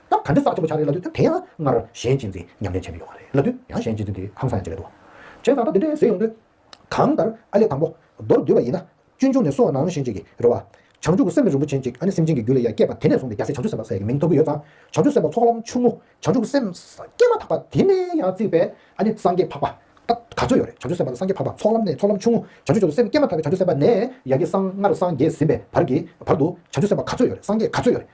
སྐབས་ག་འདྲ་བསགས་ཆོག་པ་ཆགས་རེད་ལབ་དུས་སྐབས་དེ་ཡང་སྔར་གཞན་གཅེས་འཛིན་ཉམས་ལེན་བྱས་མི་ཡོང་བ་རེད་ལབ་དུས་ཡང་གཞན་གཅེས་འཛིན་དེ་ཧང་སང་ཡང་བྱེད་ཀྱི་འདུག་བྱས་ཙང་ད་དེ་འདྲས་ཟེར་ཡོང་དུས། གང་ལྟར་ཨ་ལས་དང་པོ་མདོར་བསྡུས་པ་ཡིན་ན། སྤྱོད་འཇུག་ནས་སོ་ནང་བཞིན་ཅིག་གི་རེད་བ། བྱང་ཆུབ་ཀྱི་སེམས་ནི་རིན་པོ་ཆེན་གཅིག་ཨ་ནི་སེམས་ཅན་གྱི་རྒྱུ་ལས་ཡ་སྐྱེས་པ་དེ་ནས་བཟུང་སྟེ་རྒྱ་སེ་བྱང་ཆུབ་སེམས་དཔའ་སེ་གི་མིང་ཐོབ་ཀྱི་ཡོད་ཙང་བྱང་ཆུབ་སེམས་དཔའ་ཚོགས་ལམ་ཆུང་ངུ་བྱང་ཆུབ་སེམས་སྐྱེས་མ་ཐག་པ་དེ་ནས་ཡང་བརྩིས་པས་ཨ་ནི་སངས་རྒྱས་འཕགས་པ། ད་ག་ཚོད་ཡོད་རེད་བྱང་ཆུབ་སེམས་དཔའ་དང་སངས་རྒྱས་འཕགས་པ་ཚོགས་ལམ་ནས་ཚོགས་ལམ་ཆུང་ངུ་བྱང་ཆུབ་སེམས་སྐྱེས་མ་ཐག་པའི་བྱང་ཆུབ་སེམས་དཔའ་ནས་ཡ་གྱི་སངས་སྔར་སངས་རྒྱས་ཟིན་པའི་བར་གྱི་བར་དུ་བྱང་ཆུབ་སེམས་དཔའ་ག་ཚོད་ཡོད་རེད་སངས་རྒྱས་ག་ཚོད་ཡོད་རེད།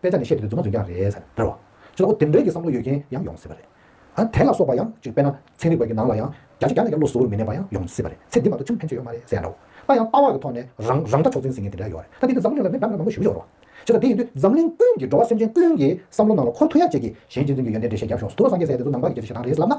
དཔེ་ཆ་ནས་བཤད་དེ་རྫུན་མ་རྫུན་རྐྱང་རེད་ཟེར་བ། ཅེས་དགོད་བདེན་འགྲེལ་གྱི་བསམ་བློ་ཡོད་མཁན་ཡང་ཡོང་སྲིད་པ་རེད། ཨ་དེ་ལ་སོགས་པ་ཡང་ཅིག་དཔེར་ན་ཚན་རིག་པ་ཀྱི་ནང་ལ་ཡང་རྒྱ་ཆེ་རྒྱ་ནག་རྒྱ་བློ་གཟུ་བོར་མི་གནས་པ་ཡང་ཡོང་སྲིད་པ་རེད་ཚེ་འདི་མ་གཏོགས་ཆུང་ཕན་ཆོད་ཡོད་མ་རེད་ཟེར་ཡང་རུང། ད་ཡང་དཔའ་བར་གྱི་ཐོག་ནས་རང་རང་འདྲ་ཕྱོགས་འཛིན་ཟིན་མཁན་དེ་འདྲ་ཡོད་རེད་ད་དེ་འདི་འཛམ་གླིང་ལ་མི་འདྲ་མི་འདྲ་མང་པོ་ཞིག་ཡོད་རེད། བྱས་ཙང་དེ་ཡིན་དུས་འཛམ་གླིང་ཀུན་གྱི་འགྲོ་བ་སེམས་ཅན་ཀུན་གྱི་བསམ་བློ་ནང་ལ་འཁོར་ཐུབ་ཡ་ཅེས་ཀྱིས་གཞན་གཅེས་འཛིན་གྱི་ཡོན་ཏན་འགྲེལ་བཤད་རྒྱབ་ཤོག་སུ་དུ་བ་སངས་རྒྱས་སའི་དེ་ཚོ་ནང་པ་གི་སྐད་ཆ་ཞེ་སྡང་རེད་ཟེར་ལབ་ན།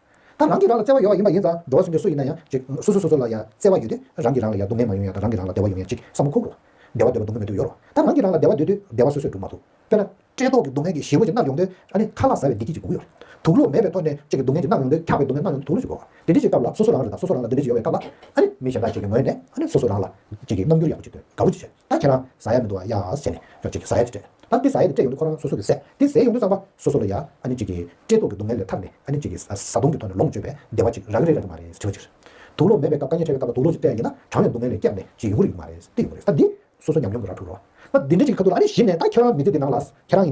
ད་རང་གིས་རང་ལ་བརྩེ་བ་ཡོད་པ་ཡིན་པ་ཡིན་ཙང་འགྲོ་བ་སུ་འདྲ་སུ་ཡིན་ན་ཡང་ཅིག་སོ་སོ་སོ་སོ་ལ་ཡང་བརྩེ་བ་ཡོད་དུས་རང་གིས་རང་ལ་ཡང་སྡུག་བསྔལ་མ་ཡོང་ཡང་རང་གིས་རང་ལ་བདེ་བ་ཡོང་ཡང་ཅིག་བསམ་བློ་འཁོར་འགྲོ། བདེ་བ་འདོད་པ་སྡུག་བསྔལ་མི་འདོད་ཡོད་རོགས། ད་རང་གིས་རང་ལ་བདེ་བ་འདོད་དུས་བདེ་བ་སོ་སོས་འགྲུབ་མ་ཐུབ། དཔེར་ན། བཀྲེས་ལྟོགས་ཀྱི་སྡུག་བསྔལ་གྱིས་ཞི་བ་ཀྱི་རྣག་ཡོང་དུས་ཨ་ནི་ཁ་ལག་ཟ་བའི་བདེ་སྐྱིད་ཀྱི་སྒུག་ཡོད། དུག་སློག་མེད་པའི་ཐོག་ནས་ཅིག་གི་སྡུག་བསྔལ་གྱི་རྣག་ཡོང་དུས་འཁྱག་པའི་སྡུག་བསྔལ་རྣག་ཡོང་དུས་དུག་ལོག་བྱེད་དགོས། དེ་འདྲི་ཅིག་སྐབས་ལ་སོ་སོ་རང་རེད་ད་སོ་སོ་རང་ལ་འདི་འདྲི་ཡོད་པའི་སྐབས་ལ། ཨ་ནི་མི་གཞན་དག་ཅིག་གི་ངོས་ནས། ཨ་ནི་སོ་སོ་རང་ལ། ཅིག་གི་རྣམ་འགྱུར་ཡག་པོ་བྱེད་དུས་དགའ་བོ་ཅིག་བྱེད། ད་ཁྱེད་རང་ཟ་ཡ་མི་འདུག་བ་ཡང་ཟེར་ནས་ཁྱོད་ཅིག་ཟ་ཡ་དེ་སྤྲད། ད་འདི་ཟ་ཡ་དེ་སྤྲད་ཡོང་དུས་ཁོ་རང་སོ་སོ་གི་ཟས་དེ་ཟས་ཡོང་དུས་བསམ་པ་སོ་སོ་ལ་ཡ་ཨ་ནི་ཅིག་གིས་བཀྲེས་ལྟོགས་ཀྱི་སྡུག་བསྔལ་ལས་ཐར་ནས་ཨ་ནི་ཅིག་གིས་བཟའ་བཏུང་གི་ཐོག་ནས་ལོངས་སྤྱོད་པའི་བདེ་བ་ཅིག་རག་གི་རེད་རེད་མ་རེད་དྲི་བ་གཅིག་རེད། དུག་ལོག་མེད་པའི་སྐབས་དཀའ་ངལ་འཕྲད་པའི་སྐབས་ལ་དུག་ལོག་ཅིག་བསྟན་ཡིན་ན་གྲངས་ལས་སྡུག་བསྔལ་ལས་སྐྱབས་ནས་ཅིག་ཡོང་གི་རེད་ཀྱི་མ་རེད་ཏི་ཡོང་གི་རེད་ད་འདི་སོ་སོ་ཉམས་མྱོང་གི་ར་འཕྲུག་རོ། ད་འདི་འདྲ་ཅིག་གི་ཁ་ཐུག་ལ་ཨ་ནི་གཞི་ནས་ད་ཁྱེད་རང་མི་ཚེ་འདི་ནང་ལ་ཟ་ཁྱེད་རང་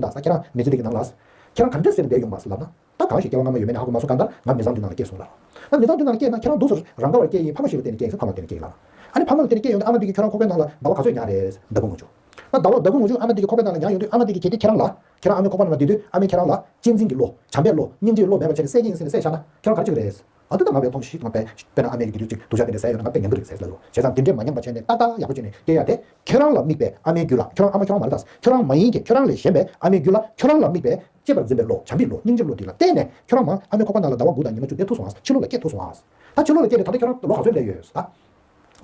མི་ཚེ་འདི་གི་ནང་ལ་ཟ་ཁྱེད་རང་ག་འདྲ་ཟེར་ནས་བསྡད་ཡོང་བ་ལབ་ན། ད་གང་ཞིག་སྐྱེ་བ་སྔ་མ་ཡོད་མེད་ནི་ཧ་གོ་མ་སོང་གང་ལྟར་ང་མི་བཟང་དུས་ནང་ལ་སྐྱེས་སོང་ལ། ང་མི་བཟང་དུས་ནང་ལ་སྐྱེས་ན་ཁྱེད་རང་སྡུག་ཟོ། རང་ག་བར་སྐྱེས་ཡིན་ཕ་མ་ཞིག་ལ་བརྟེན་ནས་སྐྱེས་ཡིན་ཕ་མ་ལ་བརྟེན་ནས་སྐྱེས་ཡིན་ལ། ཨ་ནི་ཕ་མ་ལ་བརྟེན་ནས་སྐྱེས་ཡོང་དུས་ཨ་མ་འདི་གིས་ཁྱེད་རང་ཁོག་པའི་ནང་ལ་ཟླ་བ་ག་ཚོད་མྱངས་རེད་ཟེར་ཟླ་དགུ་ངོ་བཅུ། ང་ཟླ་བ་ཟླ་དགུ་ངོ་བཅུ་ཨ་མ་འདི་གི་ཁོག་པའི་ནང་ལ་མྱངས་ཡོང་དུས་ཨ་མ་འདི་གིས་གལ་ཏེ་ཁྱེད་རང་ལ། ཁྱེད་རང་ཨ་མའི་ཁོག་པ་ནང་ལ་བསྡད་དུས་ཨ་མས་ཁྱེད་རང་ལ། གཅེས་འཛིན་གྱི་བློ། བྱམས་པའི་བློ། སྙིང་རྗེའི་བློ་མེད་པར་ཁྱེད་རང་སྲེད་ཀྱིན་ཟིན་ནས་སྲེད་བཞག་ན། ཁྱེད་རང་ག་རེ་ཆགས་ཀྱི་རེད། ཨ་མདོ་ད་ང་བས་ཐོངས་ཤིག་ང་བས། དཔེར་ན་ཨ་མས་ཡི་གེ་འདིར་ཅིག་སྡུག་ཤ་བསྟན་ཏེ་ཟས་ཡོད་ན་ང་བས་ཉན་གི་རེད་ཟེར་ལབ་ཡོང་བྱས་ཙང་དེ་འདྲས་མ་མྱངས་པ་བྱས་ནས་ཏག་ཏག་ཡག་པོ་བྱས་ནས་སྐྱེས་ཡ་དེ། ཁྱེད་རང་ལ་དམིགས་པའི་ཨ་མའི་རྒྱུད་ལ་ཁྱེད་རང་ཨ་མ་ཁྱེད་རང་མ་རེད་ད། ཁྱེད་རང་མ་ཡིན་གྱི་ཁྱེད་རང་ལས་གཞན་པའི་ཨ་མའི་རྒྱུད་ལ་ཁྱེད་རང་ལ་དམིགས་པའི། གཅེས་པར་འཛིན་པའི་བློ་བྱམས་པའི་བློ་སྙིང་རྗེའི་བློ་འདི་ལ་བརྟེན་ནས་ཁྱོད་རང་མང་ཨ་མའི་ཁོག་པ་ནང་ལ་ཟླ་བ་དགུ་དང་ཉི་མ་བཅུ་བསྡད་ཐུབ་སོང་ཨ་ཕྱི་ལོགས་ལ་སྐྱེས་ཐུབ་སོང་ཨ། ད་ཕྱི་ལོགས་ལ་སྐྱེས་ནས་ད་ལྟ་ཁྱོད་རང་ལོ་ག་ཚོད་སླེབས་ཡོད་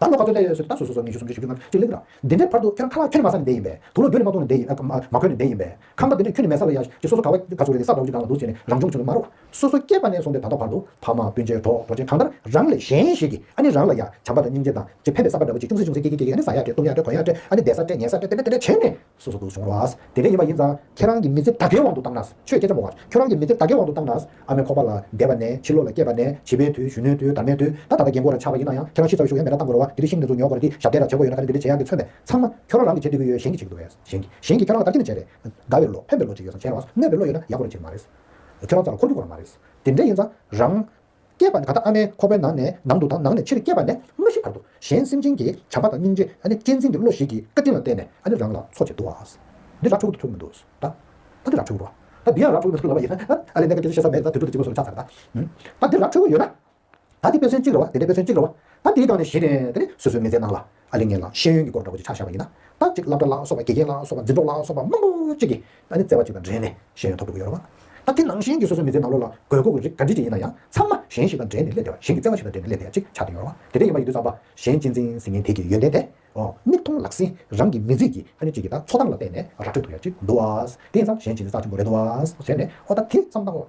ཨ། ད་ལོ་ག་ཚོད་སླེབས་ཡོད་སོད་ད་སོ་སོ་སོ་ཉི་ཤུ་སུམ་ཅུ་ཞེ་བཅུ་ལྔ་བཅུ་གཅིག་ལེགས་འདྲ། འདི་འདྲའི་བར་དུ་ཁྱོད་རང་ཁ་ལག་ཁྱོད་ནི་མ་ས་ནས་འདས་ཡིན་པས་དུག་ལོ་རྒྱུ་ནི་མ་གཏོང་ནས་འདས་ཡིན་ཨ། མ་གོན་ནས་འདས་ཡིན་པས་ཁང་པ་འདི་འདྲས་ཁྱོད་ནི་མལ་ས་ལ་ཡ་ཞེས་སོ་སོ་ག་བ་ག་ཚོད་རེད་ས་བ་བཅུ་གང་ལ་འདུག་ཟེར་ནས་རང་བྱུང་བྱུང་ནི་མ་རུ། སོ་སོ་སྐྱེས་པ་ནས་སོང་སྟེ་ད་ལྟ་བར་དུ་ཕ་མ་སྤུན་མཆེད་གྲོགས་གྲོགས་ཅན་གང་ལྟར་རང་ལས་གཞན་ཞིག་གིས་ཨ་ནི་རང་ལ་ཡ་བྱམས་པ་དང་སྙིང་རྗེ་དང་ཅི་ཕན་པའི་ས་པ་འདྲ་བོ་ཅིག་ཅུང་ཟད་ཅུང་ཟད་སྐྱེས་ཀྱིན་སྐྱེས་ཀྱིན་ཨ་ནི་ཟ་ཡ་སྤྲད་བཏུང་ཡ་སྤྲད་གོན་ཡ་སྤྲད་ཨ་ནི་བསྡད་ས་སྤྲད་ཉལ་ས་སྤྲད་དེ་འདྲ་དེ་འདྲ་བྱས་ནས། སོ་སོ་སྡུག་བྱུང་རོགས། དེ་འདྲས་ཡིན་པ་ཡིན་ཙང། ཁྱེད་རང་གི་མི་ཚེ་ད་གའི་དབང་དུ་བཏང་ན། ཆོས་སྐད་ཆ་མོ་བར། ཁྱོད་རང་གི་མི་ཚེ་ད་གའི་དབང་དུ་བཏང་ན། ཨ་མའི་ཁོག་པ་ལ་འདས་པ་ནས་ཕྱི་ལོ་ལ་སྐྱེས་པ་ནས་བྱིས་པའི་དུས་གཞོན་ནུའི་དུས་དར་མའི་དུས་ད་ད་ལྟ་རྒན་མགོ་ར་ཆག་པ་ཡིན་ན་ཡང་ཁྱེད་རང་ཤི་ཚར་བའི་ཤུགས་ཡ་མེད་ན་གཏང་དགོས་རེད་བ་འདི་དེ་ཤིང་ནི་ཟུག་ཉོག་གོ་རེད་འདི་ཞབས་རྟའི་ར་ཇེ་མགོ་ཡོད་ན་ད་ནི་འདི་འདྲའི་ཇེ་ཡག་གི་མཚོན་པས་ཚང་མ། ཁྱོད་རང་རང་གིས་བྱེད་འདོད་ཀྱི་ཡོད་གཞན་གྱིས་བྱེད་ཀྱི་འདུག་བས་གཞན་གྱིས་གཞན་གྱིས་ཁྱོད་རང་ལ་ལྟ་ཀི་ནི་བྱས་རེད། དགའ་བའི་བློ་ཕན་པའི་བློ་བྱེད་ཀྱི་ཡོད་ཙང་ཕན་པའི་བློ་ཡོད་ན་ཡག་པོ་རེད་བྱེད་ཀྱི་མ་རེད། ཁྱོད་རང་ཚོ་ལ་འཁོར་རྒྱུག་དགོས་རང་མ་རེད། དེ་འདྲས་ཡིན་ཙང་རང། སྐྱེས་པ་ནི་ད་ལྟ་ཨ་མའི་ཁོག་པའི་ནང་ནས་ནང་དུ་དང་ནང་ནས་ཕྱིར་སྐྱེས་པ་ནས་མ་ཤི་བར་དུ་གཞན་སེམས་ཅན་གྱི་བྱམས་པ་དང་སྙིང་རྗེ་གཅེས་འཛིན་གྱི་བློ་ཞིག་གིས་བཀའ་དྲིན་ལ་བརྟེན་ནས་རང་ལ་འཚོ་བྱེད་དུ་བ། འདི་ར་འཕྲུག་ཏུ་ཐུག་མི་འདུག་ད། ད་འདི་ར་འཕྲུག་རོ། ད་འདི་ཡང་ར་འཕྲུག་མི་འདུག་ལབ་པ་ཡིན་ན། ཨ་ལས་ནད་ཀྱི་སྐད་ཆ་བཤད་ས་མེད་ད་དུས་ཚོད་ཀྱི་གཅིག་པོ་སོར་ཆགས་ཚར་ད། ད་འདི་ར་འཕྲུག་ཡོད་ན། ད་འདི་དཔེ་མཚོན་གཅིག་རེད་བ་འདི་འདྲའི་དཔེ་མཚོན་གཅིག་རེད་བ། ད་འདིའི་སྒང་ནས་བཞི་རེད་དེ་ནི་སོ་སོའི་མི་ཚེའི་ནང་ལ། ཨ་ལེ་ངན་ལགས་ཤེས་ཡོན་གྱི་སྐོར་འདྲ་པོ་ཅིག་ཆགས་བཞག་པ་ཡིན་ན། ད་ཅིག་བླ་བྲ་ལགས་སོགས་པ་དགེ་རྒན་ལགས་སོགས་པ་འཛིན་གྲོགས་ལགས་སོགས་པ་མང་པོ་ཅིག་གིས་ཨ་ནི་བརྩེ་བ་ཅིག་དང་འབྲེལ་ནས་ཤེས་ཡོན་ཐོབ་འདུག་གི་ཡོད་རེད་བ། ད་དེ་ནང་བཞིན་གྱི་སོ་སོའི་མི་ཚེའི་ནང་ལོ་ལ་དགོས་མཁོ་གི་རིགས་ག་འདྲི་ཅིག་ཡིན་ན་ཡང་ཚང་མ་གཞན་ཞིག་དང་འབྲེལ་ནས་སླེབས་བསྡད་པ་གཞན་གྱི་བརྩེ་བ་ཞིག་དང་འབྲེལ་ནས་སླེབས་བསྡད་པ་ཅིག་ཆགས་འདུག་ཡོད་རེད་བ། དེ་འདྲ་ཡིན་པ་ཡིན་དུས་ཚང་པ་གཞན་གཅེས་འཛིན་ཟིན་མཁན་དེ་གི་ཡོན་ཏན་དེ། མིག་མཐོང་ལག་ཟིན་རང་གི་མི་ཚེ་ཀྱི་ཨ་ནི་ཅིག་གི་ད་འཚོ་སྟངས་ལ་བལྟས་ནས་ར་འཕྲོད་ཐུབ་ཡག་ཅིག་འདུག་བ། དེ་ཡིན་ཙང་གཞན་གཅེས་འཛིན་ས་ཆེན་པོ་རེད་འདུག་བ། ཟེར་ནས་ཨོ་ད་དེ་བསམ་སྟངས།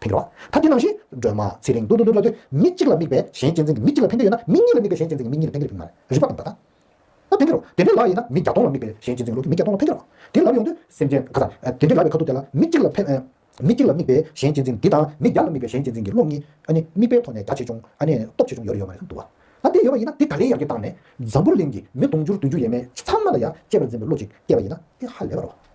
ཕན་འགྱུར་བ། ཐབས་ཀྱི་རྣམ་བཞི། སྒྲོལ་མ། ཚེ་རིང། ཏུ་ཏུ་ཏུ་ལ་ལྟོས། མི་གཅིག་ལ་དམིགས་པས་གཞན་གཅེས་འཛིན་གྱི་མི་གཅིག་ལ་ཕན་འདོད་ཡོད་ན་མི་གཉིས་ལ་དམིགས་པས་གཞན་གཅེས་འཛིན་གྱི་མི་གཉིས་ལ་ཕན་འགྱུར་རིགས་མ་རེད། རིགས་པ་དང་བརྡ་དང། ན། ཕན་འགྱུར་རོ། དེ་འདྲའི་ལག་ཡིན་ན་མི་བརྒྱ་སྟོང་ལ་དམིགས་པས་གཞན་གཅེས་འཛིན་གྱི་ལོ་རྒྱུས་མི་བརྒྱ་སྟོང་ལ་ཕན་འགྱུར་རོ། དེ་ལབ་ཡོང་དུས། སེམས་ཅན། ག་ས། དེ་འདྲའི་ལག་གི་ཁ་ཐུག་དེ་ལ་མི་གཅིག་ལ་ཕན། མི་གཅིག་ལ་དམིགས་པས་གཞན་གཅེས་འཛིན་འདི་དང་མི་བརྒྱ་ལ་དམིགས་པས་གཞན་གཅེས་འཛིན་གྱི་བློ་གཉིས། ཨ་ནི། དམིགས་པའི་ཐོག་ནས་བརྒྱ་ཆེ་ཆུང། ཨ་ནི། སྟོབས་ཆེ་ཆུང་ཡོད་རེ་ཡོད་མ་རེད་འདུག་བ། ད་དེ་ཡོད་པ་ཡིན་ན་དེ་ག་རེའི་ཡར་གྱི་བཏང་ནས། འཛམ་བུ་གླིང་གི་མི་དུང་ཕྱུར་བདུན་ཅུ་ཡས་མས་ཚང་མ་ལ་ཡང་གཅེས་པར་འཛིན་པའི་བློ་གཅིག་སྐྱེས་པ་ཡིན་ན་དེ་ཧ་ལས་པ་རེད་བ།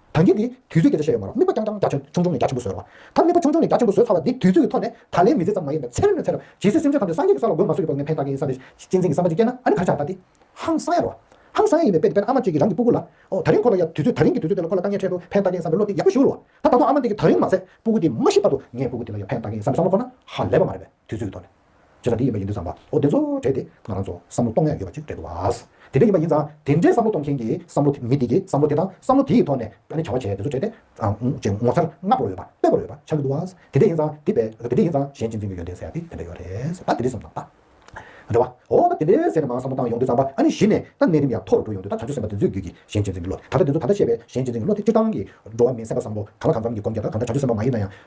དང་རྒྱུད་འདིའི་དུས་ཚོད་སྐད་ཆ་བཤད་ཡོད་མ་རང་དམིགས་པ་རྐྱང་རྐྱང་རྒྱ་ཆུང་ཆུང་ནས་རྒྱ་ཆེན་པོ་བཟོས་རོགས། ད་དམིགས་པ་ཆུང་ཆུང་ནས་རྒྱ་ཆེན་པོ་བཟོས་ཚར་བ་འདི་དུས་ཚོད་ཀྱི་ཐོག་ནས་ད་ལན་མི་ཚེ་ཙམ་མ་ཡིན་པར་ཚེ་རབས་ནས་ཚེ་རབས་ཇི་སྲིད་སེམས་ཅན་ཐམས་ཅད་སངས་རྒྱས་ཀྱི་ས་ལ་འགོད་མ་གསོད་ཀྱི་སྐོར་ངས་ཕན་བཏགས་མཁན་ཡིན་ས་རེད་གཅེས་འཛིན་གྱི་བསམ་པ་ཅིག་སྐྱེས་ན་ཨ་ནི་ག་རེ་བྱ་བཏགས་ཏེ། ཧང་སངས་ཡ་རོགས། ཧང་སངས་ཡ་ཡིན་པའི་དཔེ་དེ་དཔེར་ན་ཨ་མ་གཅིག་གིས་རང་གི་སྤུ་གུ་ལ། ཨོ་ད་རིང་ཁོ་ལ་ཡ་དུས་ཚོད་ད་རིང་གི་དུས་ཚོད་དེ་ལ་ཁོ་ལ་དཀའ་ངལ་འཕྲད་འདུག་ཕན་བཏགས་ཀྱི་བསམ་པའི་བློ་དེ་ཡག་པོ་ཞིག་རོ། ད་ད་དུང་ཨ་མ་འདི་གིས་ད་རིང་མ་ཟད་སྤུ་གུ་དེ་མ་ཤི་བར་དུ་ངས་སྤུ་གུ་དེ་ལ་ཡ་ཕན་བཏགས་ཀྱི་བསམ་པའི་བསམ་བློ་ཁོ་ན་ཧ་ལས་པ་མ་རེད་པས་དུས་ཚོད་ཀྱི་ཐོག་ནས། ཅེས་པ་འདི་ཡིན་པ་ཡིན་དུས་ཙམ་པའོ་བདེན་ཚོ་བགྲེས་ཏེ་ང་རང་ཚོ་བསམ་བློ་གཏོང་ཡ་ཡོད་པ་ཅིག་རེད་འདུག་བ། དེ་འདྲ་ཡིན་པ་ཡིན་ཙང་དེ་འདྲའི་བསམ་བློ་གཏོང་མཁན་གྱི་བསམ་བློ་མི་དེ་གྱི་བསམ་བློ་དེ་དང་བསམ་བློ་དེའི་ཐོག་ནས་བྱ་བ་བྱས་བདེན་ཚོ་བགྲེས་ཏེ་ཅེས་ངོ་མཚར་སྔ་པོར་འོས་པ་དཔེ་པོར་འོས་པ་ཆགས་ཀྱི་འདུག་བ། དེ་འདྲ་ཡིན་ཙང་དེ་བས་དེ་འདྲ་ཡིན་ཙང་གཞན་གཅིག་འཛིན་གྱི་ཡོད་འདེད་ཟེར་ཡ་དེ་དེ་འདྲ་ཡོད་རེད་ད་དེ་འདྲའི་བསམ་བློ་དང། རེད་བ། འོ་ད་དེ་འདྲའི་ཟེར་ནས་མང་བསམ་བློ་བཏང་ཡོང་དུས་ཙམ་པ་ཨ་ནི་གཞི་ནས་ད་གནས་རིམ་ཡང་མཐོ་རུ་འགྲོ་ཡོང་དུས་ད་བྱང་ཆུབ་སེམས་པ་དེ་ཚོའི་རྒྱུད་ཀྱི་གཞན་གཅིག་འཛིན་གྱི་བློ་དེ་ད་ད་འདི་ཚོ་ད་ལྟ་བཤད་པའི་གཞན་གཅིག་འཛིན་གྱི་བློ་དེ་སྤྱིར་བཏང་གི་འགྲོ་བ་མིའི་སེམས་པ་བསམ་བློ་ག་ལ་གང་འཚམ་གྱི་སྒོམ་རྒྱ་དང་གང་འདྲ་བྱང་ཆུབ་སེམས་པ་མ་ཡིན་ན་ཡང།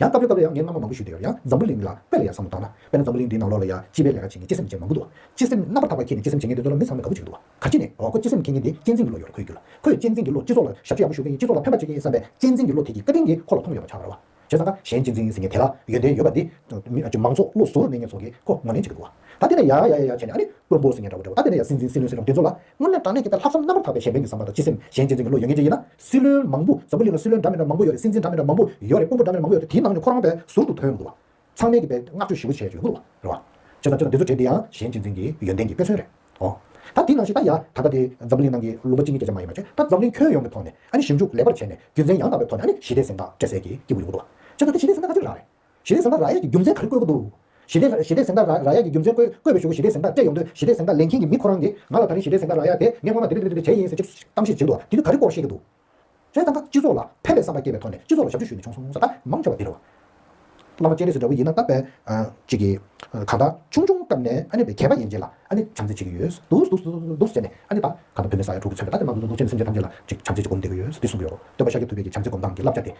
ཡང་སྐབས་རེ་སྐབས་རེ་ཡང་ངས་སྔ་མོ་མང་པོ་ཞུས་འདི་ཡོད་ཡང་འཛམ་བུ་གླིང་འདི་ལ་དཔེ་ལ་ཡང་བསམ་བློ་བཏང་ན། དཔེར་ན་འཛམ་བུ་གླིང་འདིའི་ནང་ལོགས་ལ་ཡང་སྤྱི་པའི་ལས་ཀ་བྱེད་མཁན་སྤྱི་སེམས་ཅན་མང་པོ་འདུག་བ། སྤྱི་སེམས་རྣམ་པར་དག་པ་ཁྱེད་ནི་སྤྱི་སེམས་བྱེད་མཁན་དེ་ཚོ་ལ་མི་ཚང་མས་དགའ་པོ་བྱེད་ཀྱི་འདུག་བ། ག་ཅི་ནས་འོ་ཁོ་སྤྱི་སེམས་མཁྱེན་མཁན་དེ་གཅེས་འཛིན་གྱི་བློ་ཡོད་རེ་ཁོས་གྱུར་ལ། ཁོས་གཅེས་འཛིན་གྱི་བློས་སྤྱི་ཚོགས་ལ་ཞབས་ཕྱི་ཡག་པོ་ཞུ་མཁན་ཡིན་སྤྱི་ཚོགས་ལ་ཕན་པ་བྱེད་མཁན་ཡིན་བསམ་པའི་གཅེས་འཛིན་གྱི་བློ་དེ་གྱིས་བཀའ་དྲིན་དེ་ཁོ་ལ་ཐོབ་མྱོང་ཡོད་པ་ཆགས་གི་རེད་བ། བྱས་ཙང་ཀ་གཞན་གཅེས་འཛིན་ཟེར་མཁན་དེ་ལ་ཡོན་ཏན་ཡོད་པ་འདི། མང་ཚོགས་བློ་གཟུ་བོར་གནས་མཁན་ཚོ་གིས་ཁོ་ངོ་ལེན་བྱེད་ཀྱི་འདུག་བ། ད་དེ་ནས་ཡ་ཡ་ཡ་ཡ་བྱས་ནས་ཨ་རེ་དཀོན་པོ་ཟེར་མཁན་འདྲ་བོ་འདྲ་བོ་ད་དེ་ནས་ཡ་སྲིད་འཛིན་སྲིད་བློན་ཟེར་མཁན་དེ་ཚོ་ལ། སྔོན་ལས་དྲང་གནས་ཀྱི་ལྟར་ལྷག་བསམ་རྣམ་པར་དག་པའི་གཞན་ཕན་གྱི་བསམ་པ་དང་སྤྱི་སེམས་གཞན་གཅེས་འཛིན་གྱི་བློ་ཡོད་མཁན་ཅན་ཡིན་ན། སྲིད་བློན་མང་པོ་འཛམ་བུ་གླིང་ལ་སྲིད་བློན་འདྲ་མི་འདྲ་མང་པོ་ཡོད་རེད་སྲིད་འཛིན་འདྲ་མི་འདྲ་མང་པོ་ཡོད་རེད་དཔོན་པོ་འདྲ་མི་འདྲ་མང་པོ་ཡོད་རེད་དེའི་ནང་ནས་ཁོ་རང་པའི་ཟུར་དུ་ཐོན་ཡོང་དགོས་བ། ཚང་མས་ཀྱི་པའི་བསྔགས་བརྗོད་ཞི་བོ་བྱས་ཡོང་དགོས་བ། བྱས་ཙང་ཅི་ལ་འདི་ཚོ་བྱས་འདི་ཡང་གཞན་གཅེས་འཛིན་གྱི་ཡོན་ཏན་གྱི་དཔེ་མཚོན་རེད་ཨོ། ད་དེའི་ནང་བཞིན་ད་ཡ་ད་ལྟ་དེ་འཛམ་བུ་གླིང་ནང་གི་ལུང་པ་གཅིག་གཉིས་བརྒྱ་ཆ་མ་ཡིན་པ་བྱས་ད་འཛམ་བུ་གླིང་ཁྱོན་ཡོངས་ཀྱི་ཐོག་ནས་ཨ་ནི་ཞིབ་འཇུག་ལེགས་པར་བྱས་ནས་རྒྱུ་མཚན་ཡང་དག་པའི་ཐོག་ནས་ཨ་ནི་ཞི་བདེ་གཟེངས་རྟགས་སྤྲད་སད་ཀྱི་སྐྱིད་པོ་ཡོང་དགོས་བ། བྱས་ཙང་དེ་ཞི་བདེ་གཟེངས་རྟགས་ཅི་རིགས་རག་རེད། ཞི་བདེ་གཟེངས་རྟགས་ར་ཡས་ཀྱི་རྒྱུ་མཚན་ག་རེ་བཀོད་གི་འདུག། ཞི་བདེ་ཞི་བདེ་གཟེངས་རྟགས་ར་ཡས་ཀྱི་རྒྱུ་མཚན་བཀོད་བཀོད་པའི་ཞུ་གུ་ཞི་བདེ་གཟེངས་རྟགས་སྤྲད་ཡོང་དུས་ཞི་བདེ་གཟེངས་རྟགས་ལེན་མཁན་གྱི་མི་ཁོ་རང་གིས་ང་ལ་ད་རིང་ཞི་བདེ་གཟེངས་རྟགས་ར་ཡས་དེ་ངས་སྔོན་མ་འདི་འདི་འདི་འདི་བྱས་ཡིན་ཟེར་གཅིག་གཏམ་ཞིག་བྱེད་འདུག་དེ་དུས་ག་རེ་བཀོག་ཤེས་ཀྱི་འདུག། ཞེས་ད་ལྟ་སྤྱི་ཚོགས་ལ་ཕན་པའི་བསམ་པ་སྐྱེས་པའི་ཐོག་ནས་སྤྱི་ཚོགས་ལ་ཞབས་ཞུ་ཞུས་ནས་བྱུང་སོང་ཟེར་ད་མང་ཆེ་བ་འདི་རེད། བླ་མ་སྤྱན་རས་གཟིགས་འདྲ་བོ་ཡིན་ན་ད་དཔེ་གཅིག་གིས། གང་ལྟར་ཆུང་ཆུང་སྐབས་ནས་ཨ་ནེ་བའི་མཁས་པ་ཡིན་རྗེས་ལ་ཨ་ནེ་བྱམས་བརྩེ་བྱེད་ཀྱི་ཡོད་འདུག་འདུག་འདུག་ཟེར་ནས་ཨ་ནེ་ད་གང་ལྟར་བོད་མི་ས་ཡ་དྲུག་གིས་མཚོན་པའི་ད་དེ་མ་འདུག་འདུག་འདུག་ཅེས་ནས་སེམས་ཅན་ཐམས་ཅད་ལ་ཅིག་བྱམས་བརྩེ་ཅིག་སྒོམ་བསྡད་ཀྱི་ཡོད་འདུག་འདི་གསུངས་ཀྱི་ཡོད། འདོད་པ་ཤཱཀྱ་ཐུབ་བསྟན་གྱི་བྱམས་བརྩེ་སྒོམ་སྟངས་ཀྱི་བསླབ་བྱ་དེ།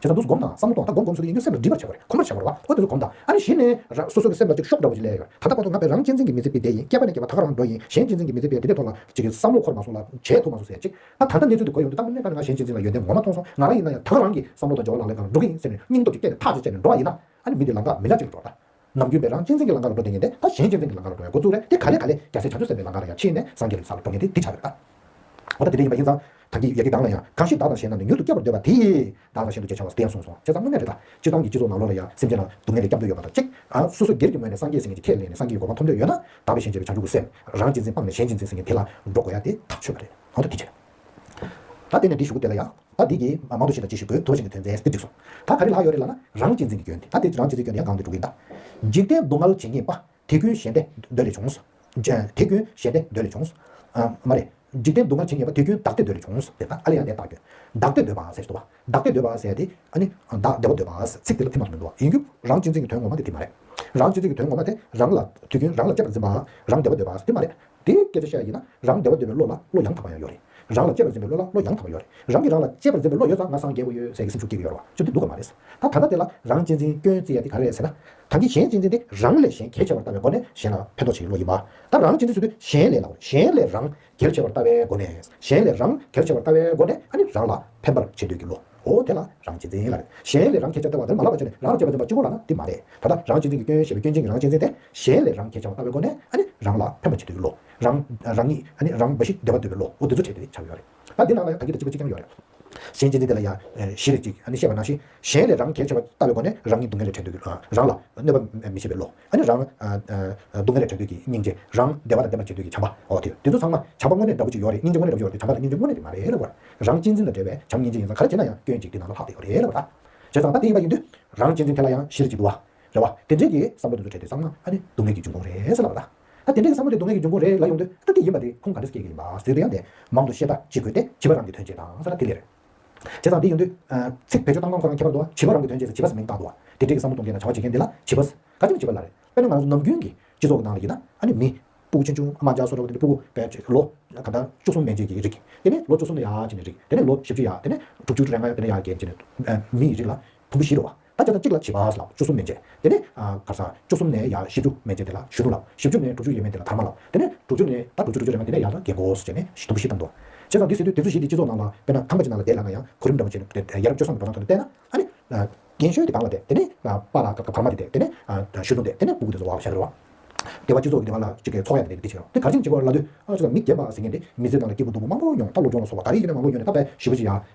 ཇི་ལྟར་འདུག་སུ་སྒོམ་དང་བསམ་བློ་གཏོང་ད་སྒོམ་སྒོམ་སུ་དེ་ཡིན་དུས་སེམས་ལ་སྒྲིབ་པར་བྱ་དགོས་རེད་ཁོ་མར་བྱ་དགོས་རེད་བ། ཁོ་དེ་ཚོ་སྒོམ་དང། ཨ་ནི་གཞི་ནས། རང་སོ་སོ་གི་སེམས་ལ་ཅིག་ཤོག་འདྲ་བོ་ཅིག་ལས་ཡོད་ད་ལྟ་ཁོ་ཚོ་ང་བས་རང་གཅེས་འཛིན་གྱི་མི་ཚེ་སྤེལ་བསྡད་ཡིན་སྐྱེས་པ་ནས་སྐྱེས་པ་ད་ག་རང་འགྲོ་ཡིན་གཞན་གཅེས་འཛིན་གྱི་མི་ཚེ་སྤེལ་དེ་འདྲའི་ཐོག་ལ་ཅིག་གིས་བསམ་བློ་འཁོར་མ་སོང་ལ་བྱས་ཐུབ་མ་སོང་ཟེར་ཅིག་ད་ད་ལྟ་གནས་ཚུལ་དེ་གོ་ཡོང་དུས་ལྟ་མི་ནུས་ད་ནི་ང་གཞན་གཅེས་འཛིན་ལ་ཡོན་ཏན་ངོ་མ་མཐོང་སོང་ང་རང་ཡིན་ན་ཡང་ད་ག་རང་གིས་བསམ་བློ་དང་འབྱོར་བ་ལག་ལེན་གང་ལ་འགྲོ་གི་ཡིན་ཟེར་ནས་སྙིང་སྟོབས་ཀྱིས་བསྐྱེད་ནས་འགྲོ་བ་ཡིན་ན་ཨ་ནི་མི་འདི་ལ་འགག་མི་ལ་ཅིག་འགྲོ་ད། ནམ་རྒྱུན་པས་རང་གཅེས་འཛིན་གྱི་ལང་ཀ་ལ་འགྲོ་འདོད་ངེས་ཏེ་ད་གཞན་གཅེས་འཛིན་གྱི་ལང་ཀ་ལ་འགྲོ་བའི་འགོ་བཙུགས་རེད་དེ་ག་ལས་ག་ལས་རྒྱ་སེ་བྱང་ཆུབ་སེམས་པའི་ལང་ཀ་ལ་ཡང་ཕྱིན་ནས་སངས་རྒྱས་ལ་ལ་འགྲོ་ངེས་ཏེ་འདི་བྱ་དགོས་ཨ། འོ་ད་དེ་འདྲ་ཡིན་པ་ཡིན་ཙང། དམ་གྱི་ཡ་གྱི་སྒང་ལ་ཡང་གང་ཞིག་བདག་དང་གཞན་རྣམས་ནི་མྱུར་དུ་བསྐྱབ་པར་འདོད་པ་དེས། བདག་ལ་ཤིན་ཏུ་གཅེས་བྱ་བ་དེ་ཡང་གསུངས་སོང་བྱས་ཙང་དངོས་གནས་རེད་ད། སྤྱིར་བཏང་གི་སྤྱི་ཚོགས་ནང་ལོགས་ལ་ཡང་སེམས་ཅན་ལ་སྡུག་བསྔལ་ལས་བསྐྱབ་འདོད་ཡོད་པ་དང་གཅིག། ཨ། སོ་སོ་སྒེར་གྱི་ངོས་ནས་སངས་རྒྱས་ཟེར་མཁན་གྱི་ཁས་ལེན་ནས་སངས་རྒྱས་ཀྱི་གོ་འཕང་ཐོན་ཡོད་ན། དག་པའི་ཞེན་བྱེད་པའི་བྱང་ཆུབ་ཀྱི་སེམས། རང་གཅེས་འཛིན་སྤངས་ནས་གཞན་གཅེས་འཛིན་ཟེར་མཁན་དེ་ལ་འགྲོ་དགོས་ཡ་དེ་ཐག་ཆོད་པ་རེད། འོ་ད་དེ་བྱས། ད་དེ་ནས་འདི་ཞུ་གི་དེ་ལ་ཡང། ད་འདི་གིས་མང་དུ་ཤེས་ན་ཅི་ཞིག་དགོས་དོ་ཞེས་ནས་དོན་ཚན་དེ་འགྲིགས་སོང། ད་ག་རེ་ལགས་ཡོད་རེད་ལགས་ན། རང་གཅེས་འཛིན་གྱི་སྐྱོན་ཏེ་ད་དེ་རང་གཅེས་འཛིན་སྐྱོན་ནི་ཡང་གང་དུ་འགྲོ་གི་ཡིན་ད། འཇིག་རྟེན་སྡུག་བསྔལ་ཇི་སྙེད་པ། དེ་ཀུན་གཞན་ཏེ་འདོད་ལས་བྱུང། དེ་ཀུན་གཞན་ཏེ་འདོད་ལས་བྱུང། མ་རེད། འཇིག་རྟེན་སྡུག་བསྔལ་ཇི་སྙེད་པ་དེ་ཀུན་བདག་ལྟས་འདོད་ལས་བྱུང། ཟེར་ན་ཨ་ལས་ཡང་དེ་བདག་སྐྱོན། བདག་ལྟས་འདོད་པ་ཟེར་བྱས་དུ་བ། བདག་ལྟས་འདོད་པ་ཟེར་ཏེ། ཨ་ནི། བདག་བདེ་བ་འདོད་པ། ཚིག་དེ་ལ་ཐིག་མ་དུ་མི་འདུག་བ། ཡིན་རྒྱུ། རང་གཅེས་འཛིན་གྱི་དོན་ངོ་མ་དེ་དེ་མ་རེད། རང་གཅེས་འཛིན་གྱི་དོན་ངོ་མ་དེ། རང་ལ་དུས་རྒྱུན་རང་ལ་ལྕེབས་ལ་འཛིན་པ། རང་བདེ་བ་འདོད་པ་དེ་མ་རེད། དེ་སྐད་ཅེས་བཤད་ཡ་ཡིན་ན་རང་བདེ་བ་འདོད་པའི་བློ་ལ་བློ་ཡང་དག་པ་ཡང་ཡོད་རེད། རང་ལ་གཅེས་པར་འཛིན་པའི་བློ་ལ་བློ་ཡང་དག་པ་ཡོད་རེད། རང་གིས་རང་ལ་གཅེས་པར་འཛིན་པའི་བློ་ཡོད་ཙང་ང་སངས་རྒྱས་དགོས་ཡོད་ཟེར་གྱི་སེམས་ཤུགས་སྐྱེ་གི་ཡོད་རེད་བ་ཅི་འདི་འདུག་ག་མ་རེད། ད་ད་ལྟ་དེ་ལ་རང་གཅེས་འཛིན་སྐྱོན་བརྩི་ཡ་དེ་ག་རེད་ཟེར་ན། གང་གིས་གཞན་གཅེས་འཛིན་དེ་རང་ལས་གཞན་གལ་ཆེ་བར་ལྟ་བའི་སྒོ་ནས་གཞན་ལ་ཕན་ཐོགས་བྱེད་ཀྱི་བློ་ཡིན་པ། ད་རང་གཅེས་འཛིན་ཟེར་དུས་གཞན་ལས་ལ་གཞན་ལས་རང་གལ་ཆེ་བར་ལྟ་བའི་སྒོ་ནས། གཞན་ལས་རང་གལ་ཆེ་བར་ལྟ་བའི་སྒོ་ནས་ཨ་ནི་རང་ལ་ཕན་པར་བྱེད་འདོད་ཀྱི་བློ། འོ་དེ་ལ་རང་གཅེས་འཛིན་ལ་རེད། གཞན་ལས་རང་གཅེས་བྱ་སྟེར་བ་དེར་མ་ལག་པ་བྱས་ནས་རང་གཅེས་པ་འཛིན་པ་གཅིག་པུ་ལ་ན་དེ་མ་རེད། ད་ལྟ་རང་གཅེས་འཛིན་གྱི་སྐྱོན་ཞེས་པའི་སྐྱོན་ཅན་གྱི་རང་གཅེས་འཛིན་དེ་གཞན་ལས་རང་གཅེས་བྱ་བ་ལྟ་བའི་སྒོ་ནས་ཨ་ནི་རང་ལ་ཕན་པ་བྱེད་འདོད་ཀྱི་བློ། རང། རང་ཉིད། ཨ་ནི་རང་འབའ་ཞིག་བདེ་བ་འདོད་པའི་བློ་འོ་འདི་ཚོ་བྱས་ཏེ་བྱ་བ་ཡོད་རེད། ད་འདི་ནང་ལ་ཡང་དག་གི་དེ་གཅིག་པ་གཅིག་ཀྱང་ཡོད་རེད། གཞན་གཅེས་འཛིན་དེ་ལ་ཡང་བཞི་རེ་གཅིག་ཨ་ནི་བཤད་པ་ནང་བཞིན། གཞན་ལས་རང་གཅེས་བྱ་བ་ལྟ་བའི་སྒོ་ནས་རང་ཉིད་སྡུག་བསྔལ་ལས་བྲལ་འདོད་ཀྱི་བློ། རང་ལ་གནོད་པ་མི་བྱེད་པའི་བློ། ཨ་ནི་རང། སྡུག་བསྔལ་ལས་བྲལ་འདོད་ཀྱི་སྙིང་རྗེ། རང། བདེ་བ་དང་ལྡན་པར་བྱེད་འདོད་ཀྱི་བྱམས་པ། འོ་དེ། དེ་ཚོ་ཚང་མ། བྱམས་པ་དངོས་གནས་འདྲ་པོ་ཅིག་ཡོད་རེད་སྙིང་རྗེ་དངོས་གནས་འདྲ་པོ་ཅིག་ཡོད་རེད་དེ་བྱམས་པ་དང་སྙིང་རྗེ་དངོས་གནས་དེ་མ་རེད་ལབ་བར། རང་གཅེས་འཛིན་ལ་བྲེལ་བས་བྱམས་སྙིང་རྗེ་ཡིན་ཙང་ཁ་ར་ཇེ་ན་ཡང་སྐྱོན་གཅིག་དེ་ན་ཟུག་ལྷག་དེ་ཡོད་རེད་ལབ་བར། བྱས་ཙང་ད་དེ་ཡིན་པ་ཡིན་དུས། རང་གཅེས་འཛིན་དེ་ལ་ཡང་གཞིར་གྱིས་འདུག་བ། རེད་བ། དེ་འདྲས་ཀྱི་བསམ་བློ་དེ་ཚོ་བྲལ་དུས་ཚང་མ་ཨ་ནི་སྡུག་བསྔལ་གྱི་འབྱུང་ཁུངས་རེད་ཟེར་ལབ་བར། ད་དེ་འདྲས་ཀྱི་བསམ་བློ་དེ་སྡུག་བསྔལ་གྱི་འབྱུང་ཁུངས་རེད་ལ་ཡོང་དུས་ད་དེ་ཡིན་པ་དེ་ཁུངས་ག་འདྲས་སུ་སྐྱེས་ཀྱི་ཡིན་པ་བཟོས་དུས་ཡང་དེ་མང་དུ་ཤེས་ཐག་གཅིག་དགོས་ཏེ་བྱིས་པ་རང་གི་དོན་བྱས་དང་ས་ར་དེ་ལས་རེད། བྱས་ཙང་འདི་ཡོང་དུས། ཚིག་བེད་སྤྱོད་བཏང་སྟངས་ཁོ་རང་ཁྱད་པར་འདུག་བ། བྱིས་པ་རང་གི་དོན་བྱས་ཚེ་བྱིས་པ་ཟེར་མིང་བཏགས་འདུག་བ། དེ་འདྲས་ཀྱི་བསམ་བློ་གཏོང་མཁན་དང་བྱ་བ་བྱེད་མཁན་འདི་ལ་བྱིས་པ་ཟེར། ག་དེ་མི་བྱིས་པ་ལ་རེད། དཔེར་ན་ང་ཚོ་ནམ་རྒྱུན་གྱི་སྤྱི་ཚོགས་ཀྱི་ནང་ལ་ཡིན་ན། ཨ་ནི་མི། སྤུ་གུ་ཆུང་ཆུང་ཨ་མ་མཇའ་སོགས་འགྲོ་གི་འདུག་སྤུ་གུ་བས་བྱས། ལོ། གང་ལྟར། བཅུ་གསུམ་མན་ཆད་ཀྱི་རིགས། དེ་ནས་ལོ་བཅུ་གསུམ་ནས་ཡར་ཅི་ནས་རིགས། དེ་ནས་ལོ་བཞི་བཅུ་ཡར། དེ་ནས་དྲུག་ཅུ་དྲུག་རེ་ལྔ་ཡར་དེ་ནས་ཡར་རྒྱས་ཅི་ནས། མིའི་རིགས་ལ། དུམ་བུ་བཞི་རུ། ད་སྐྱེ་ན་གཅིག་ལ་བྱིས་པ་ལ་བཅུ་གསུམ་མན་ཆད། དེ་ནས། གར་སང། བཅུ་གསུམ་ནས་ཡར་བཞི་བཅུ་མན་ཆད་དེ་ལ་བཞི་དྲུག་ལ། བཞི་བཅུ་ནས་དྲུག་ཅུ་ཡས་མན་དེ་ལ་དར་མ་ལ། དེ་ནས། དྲུག་ཅུ་ནས། ད་དྲུག་ཅུ་དྲུག་ཅུ་རེ་མ་དེ་ནས་ཡར་དང་གྱེས་འགོ་བྱས་ནས་དུམ་བུ་བཞི་བཏང་འགྲོ། བྱས་ཙང་དེ་སྲིད་དུ་དེ་ཚོ་བཞི་དེ་སྤྱི་ཚོགས་ནང་ལ་དཔེར་ན་ཁང་པ་ཅིག་ནང་ལ་བསྡད་ལ་ན་ཡང་གོ་རིམ་འདྲ་པོ་བྱས་ནས་ཡར་བཅོ་སྲང་གི་འགྲོ་སྟངས་ཐོག་ནས་བལྟས་ན། ཨ་ནི། རྒན་གཞོན་དེ་གང་ལ་བལྟས། དེ་ནས། པ་ལ་གར་མ་དེ་བལྟས། དེ་ནས། གཞོན་ནུ་བལྟས། དེ་ནས་སྤུ་གུ་དེ་ཚོ་བ་བྱས་འགྲོ། སྡེ་བ་སྤྱི་ཚོགས་ཀྱི་སྡེ་བ་ལ་གཅིག་གི་ཚོགས་ཡ་དེ་འདི་བྱས་འགྲོ། དེ་གར་ཕྱིན་གཅིག་གོ་ལ་ལྟོས། ཨ་ཅོ་ད་མི་རྒན་པ་ཟེར་མཁན་དེ་མི་ཚེ་ནང་ལ་སྐྱིད་པོ་སྡུག་པོ་མང་པོ་མྱོང་ད་སློབ་སྦྱོང་ལ་སོགས་བ་ད་རེས་ཀྱི་ནས་མང་པོ་ཡོང་ནས་ད་བས་བཞི་བཅུ་ཡར།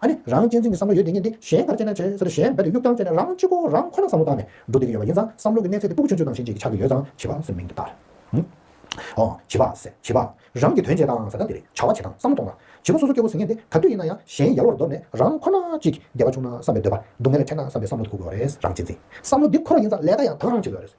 ཨ་ནི་རང་གཅེས་འཛིན་གྱི་བསམ་བློ་ཡོད་དེ་ཉིད་འདི་གཞན་གར་སྤྱད་ན་བྱས་ཟེར་གཞན་འབད་དུ་གཡུག་ཀྱང་སྤྱད་ན་རང་གཅིག་པོ་རང་ཁོ་ན་བསམ་བློ་བཏང་ནས་འགྲོ་བསྡད་ཀྱི་ཡོད་པ་ཡིན་ཙང་བསམ་བློ་གྱི་གནས་ཚད་དེ་སྤུ་གུ་ཆུང་ཆུང་ཙམ་ཞིག་ཅིག་གི་ཆ་གི་ཡོད་ཙང་བྱིས་པ་སོའི་མིང་དུ་བཏགས་རེད། འོ། བྱིས་པ་ཟེར་བྱིས་པ། རང་གིས་དོན་བྱས་དང་ཟེར་ན་འདི་རེད་བྱ་བ་བྱེད་དང་བསམ་བློ་གཏོང་དང། བྱིས་པ་སོ་སོ་སྐྱོ་བོ་ཟིང་ངེ་འདི་ག་དུས་ཡིན་ན་ཡང་གཞན་ཡལ་བར་འདོར་ནས་རང་ཁོ་ན་ཅིག་གི་བདེ་བ་ཆུང་ན་བསམ་པའི་འདོད་པ་སྡུག་བསྔལ་ལ་འཕྲད་ན་བསམ་པའི་བསམ་བློ་དུ་ཁུག་དགོས་པ་རེད་རང་གཅེས་འཛིན་བསམ་བློ་འདི་ཁོ་རང་ཡིན་ཙང་ལས་ཀ་ཡང་དག་རང་བྱེད་དགོས་པ་རེད།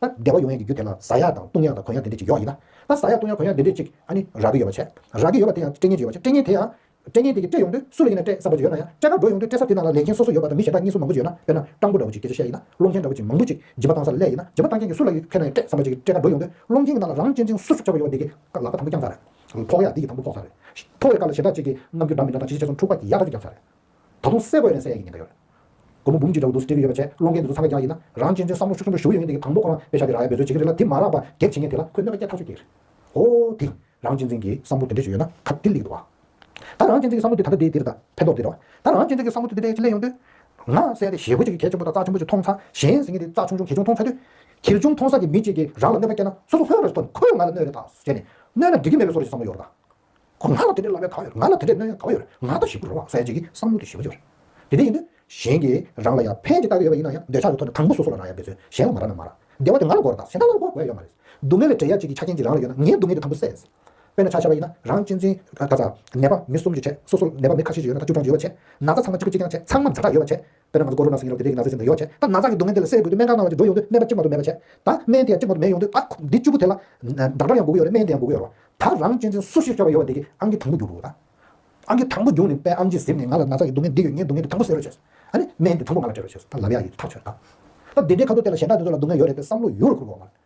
ད་བདེ་བ་ཡོང་ཡས་ཀྱི་རྒྱུ་དེ་ན་བཟའ་ཡག་དང་བཏུང་ཡག་དང་གོན་ཡག་དེ་འདྲས་ཅིག་ཡོག་ཡིན་ན། ད་བཟའ་ཡག་བཏུང་ཡག་གོན་ཡག་དེ་འདྲས་ཅིག་ཨ་ནི་རག་གི་ཡོད་པ་བྱས། རག་གི་ཡོད་པ་དེ་ཡང་སྤྲད་ཉེན་ཅིག་ཡོད་པ་བྱས་སྤྲད་ཉེན་དེ་ཡང། སྤྲད་ཉེན་དེ་ཀྱི་སྤྲད་ཡོང་དུས་སུ་ལ་ཡིན་ན་སྤྲད་ས་པ་ཅིག་ཡོད་ན་ཡང་སྤྲད་ཁར་འགྲོ་ཡོང་དུས་སྤྲད་ས་དེ་ན་ལ་ལས་མཁན་སོ་སོ་ཡོད་པ་དང་མི་གཞན་དག་གཉིས་སུ་མང་པོ་ཅིག་ཡོད་ན་དཔེར་ན་སྤྲང་པོ་འདྲ་བོ་ཅིག་དེ་ཚོ་བཤད་ཡིན་ན་སློང་མཁན་འདྲ་བོ་ཅིག་མང་པོ་ཅིག་བྱིས་པ་བཏང་ས་ལ་ལས་ཡིན་ན་བྱིས་པ་བཏང་མཁན་གྱི་སུ་ལ་ཡོད་ཕེར་ན་ཡང་སྤྲད་ས་པ་ཅིག་སྤྲད་ཁར་འགྲོ་ཡོང་དུས་སློང་མཁན་གྱི་ནང་ལ་རང་གཅེན་གཅིན་སུ་སུ་ཆགས་པ་ཡོད་པ་དེ་ཀྱི་ལག་པ་དང་པོ་བརྐྱངས་ས་རེད། ཕོག་ཡག་དེ་ཀྱི་དང་པོ་ཕོག་ས་རེད། ཕོག་བའི་སྐར་ལ་ཞེ་དྲག་ཅིག་གི་ནམ་རྒྱུན་འདྲ་མི་འདྲ་དང་ཇི་ཆེ་ཆེ་སོང་འཁྲུག་པ་ཀྱི་ཡག་ཐོག་ཅིག་བརྐྱངས་ས་རེད། ད་དུང་གསལ་པོ་ཡོད་ན་གསལ་ཡག་གི་ཉེན་ཁ་ཡོད། སྒོར་མོ་འབུམ་གཅིག་འདྲ་བོ་འདུག་སེ་སྤྲེལ་གྱི་ཡོད་པ་ཆད་སློང་མཁན་དེ་ཚོ་ཚང་ག་རྒྱག་ཡིན་ན་རང་གཅེན་གཅུན་བསམ་བློ་ཆུ་ཆུང་འདྲ་ཞུ་ཡོད་ཡིན་དེ་གི་དང་པོ་ཁོ་རང་དཔེ་ཆ་དེ་རང་ཡར་འབད་བརྩོན་བྱེད་ཀྱི་རེད་ལ་དེ་མ་རག་པ་གེགས་བྱེད་མཁན་དེ་ལ་ཁོས་གནོད་པ་བསྐྱལ་ཐག་ཆོད་ཀྱི་རེད། ཧོ་དེ། རང་གཅེན་གཅུན་གྱི་བསམ་བློ་དེ་འདྲ་ཞིག་ཡོད་ན་ཁ་བདེ་ལེགས་འདུག་བ། ད་རང་གཅེན་གཅུན་གྱི་བསམ་བློ་དེ་ད་ལྟ་དེ་དེ་རེད་ད་ཕན་ཐོག་དེ་རེད་བ། ད་རང་གཅེན་གཅུན་གྱི་བསམ་བློ་དེ་དེ་འདྲ་ཞིག་ལས་ཡོང་དུས། ང་གསལ་ཏེ་ཞེ་བོ་གཅིག་གིས་གད་ཆེན་པོ་དང་རྩ་ཆེན་པོ་ཅིག་མཐོང་ཚ་གཞན་ཟེར་མཁན་དེ་རྩ་ཆུང་ཆུང་གད་ཆུང་མཐོང་ཚ་དུས། གད་ཆུང་མཐོང་ས་ཀྱི་མི་གཅིག་གིས་རང་ལ་གནོད་པ་བསྐྱལ་ན་སོ་སོ་ཧོན་རེ་ཟོ་ཐོན་ཁོས་ང་ལ་གནོད་རེ་ད་བྱས་ནས་གནོད་ན་འགྲིག་གི་མེད་པའི་སོར་གྱི་བསམ་བློ་ཡོད་རེད་ད། ཁོ་ང་ལ་དེ་འདྲའི་བསླབ་གཡར་ག་བ་ཡོད་རེད་ང་ལ་དེ་འདྲའི་གནོད་གཡར་ག་བ་ཡོད་རེད་ང་ལྟ་ཞིབ་ཏུ་རོ་བ་གསལ་བྱེད་ཀྱི་བསམ་བློ་དེ་ཞི་བ་ཅིག་རེད་དེ་འདྲ་ཡིན་དུས་གཞན་གྱིས་རང་ལ་ཡར་འཕེན་གྱི་ལྟ་གི་ཡོད་པ་ཡིན་ན་ཡང་འདོད་ཆགས་ཀྱི་ཐོག་ནས་དང་པོ་སོ་སོ་ལ་རང་ཡར་འདོད་ཚུལ་གཞན་ལ་མ་རག་ན་མ་རག་བདེ་བ་དེ་ང་ལ་འགོ་རུ་བཏགས་གཞན་དག་ལ་འགོ་དགོས་ཡ་མ་རེད་སྡུག་བསྔལ་བའི་འབྲེལ་ཡ་གཅིག་གི་ཆ་རྐྱེན་གཅིག་རང་ལ་ཡོད་ན་ངའི་སྡུག་བསྔལ་དེ་དང་པོ་སེལ་སྲིད་དཔེར་ན་ཆ་ཤས་པ་ཡིན་ན་རང་གཅེས་འཛིན་ག་ཚ་ནད་པ་མི་གསུམ་གྱི་བྱས་སོ་སོ་ནད་པ་མི་ཁ་ཤས་ཀྱི་ཡོད་ན་ད་བཅུ་གྲངས་ཀྱི་ཡོད་པ་བྱས་ན་ཚ་ཚང་མ་གཅིག་གི་གཅིག་ཀྱང་བྱས་ཚང་མ་མཛའ་གྲགས་ཡོད་པ་བྱས་དཔེར་ན་ང་ཚོ་ཀོ་རོ་ན་སྲིན་ཡིན་རུང་དེ་དེ་གི་ན་ཟས་ཟིན་དུ་ཡོད་བྱས་ད་ན་ཟངས་ཀྱི་སྡུག་བསྔལ་དེ་ལ་སེལ་དགོས་དུས་སྨན་ཁང་ནང་ལ་ཅིག་འགྲོ་ཡོང་དུས་སྨན་པ་གཅིག་མ་གཏོགས་མེད་པ་བྱས་ད་སྨན་དེ་ཡང་གཅིག་མ་གཏོགས་མེད་ཡོང་དུས་ཨ་ཁུ་འདི་བཅུ་པོ་དེ་ལ་འདྲ་འདྲ་ཡང་འགུག་གི་ཡོད་རེད་སྨན་དེ་ཡང་འགུག་གི་ཡོད་རེད་ད་རང་གཅེས་འཛིན་སུ་ཞིག་སྐྱོ་བ་ཡོད་བ་འདི་གི་ཨང་ཀི་དང་པོ་རྒྱུག་དགོས་ད་ཨང་ཀི་དང་པོ་རྒྱུག་ནས་པའི་ཨམ་གྱིས་གཟིམ་ནས་ང་ལ་ན་ཟངས་ཀྱི་སྡུག་བསྔལ་འདི་ཡོད་ངའི་སྡུག་བསྔལ་འདི་དང་པོ་སེལ་རོགས་བྱས་ཨ་ནི་སྨན་དེ་དང་པོ་ང་ལ་སྤྲད་རོགས་བྱས་ད་ལབ་ཡག་ཡིན་ཐག་ཆོད་ད་ད་དེ་འདྲའི་ཁ་ཐུག་དེ་ལ་གཞན་དག་དེ་ཚོ་ལ་སྡུག་བསྔལ་ཡོད་རེད་པའི་བསམ་བློ་ཡུར་ལ་འཁུར་དགོས་མ་རེད།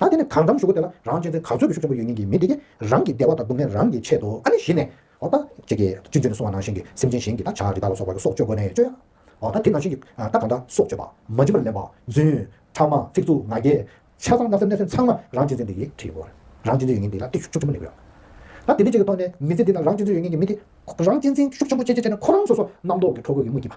ད་དེ་ནས་གང་འཚམ་ཞུ་གོ་དེ་ལ་རང་གཅེན་ཚེ་ག་ཚོད་དུ་ཤུགས་ཆེན་པོ་ཡོད་ཉིན་གྱི་མི་དེ་གས་རང་གི་བདེ་བ་དང་སྡུག་བསྔལ་རང་གིས་ཆད་དོ་ཨ་ནི་གཞི་ནས་འོ་ད་ཁྱེད་ཀྱིས་ཅི་མཛོད་ནས་སོང་བ་ནང་བཞིན་གྱི་སེམས་ཅན་གཞན་གྱི་ད་བྱ་རི་དྭགས་ལ་སོགས་པ་གི་སྲོག་གཅོད་དགོས་ནས་གཅོད་ཨོ་ད་དེ་ནང་བཞིན་གྱི་ད་གང་འདྲ་སྲོག་གཅོད་པ་མ་འཇིམ་པར་ལེན་པ་རྫུན། ཁྲག་དམར་ཚིག་རྩུབ་ང་རྒྱལ། ཆ་ཚང་བརྣབ་སེམས་བརྣབ་སེམས་ཚང་མ་རང་གཅེན་ཚེ་འདི་གིས་ཁྲིད་དགོས་རང་གཅེན་ཚེ་ཡོད་ཉིན་དེ་ལ་སྟེགས་ཤུགས་ཆེན་པོ་ནས་ཡོད་ད་དེ་འདི་བཅས་ཀྱི་ཐོག་ནས་མི་ཚེ་འདི་ན་རང་གཅེན་ཚེ་ཡོད་ཉིན་གྱི་མི་དེ་རང་གཅེན་ཚེ་ཤུགས་ཆེན་པོ་བྱས་བྱས་བྱས་ནས་ཁོ་རང་སོ་སོ་རྣམ་རྟོག་གི་ཁྲོ་རྒོད་ཀྱི་དངུལ་གྱི་བ།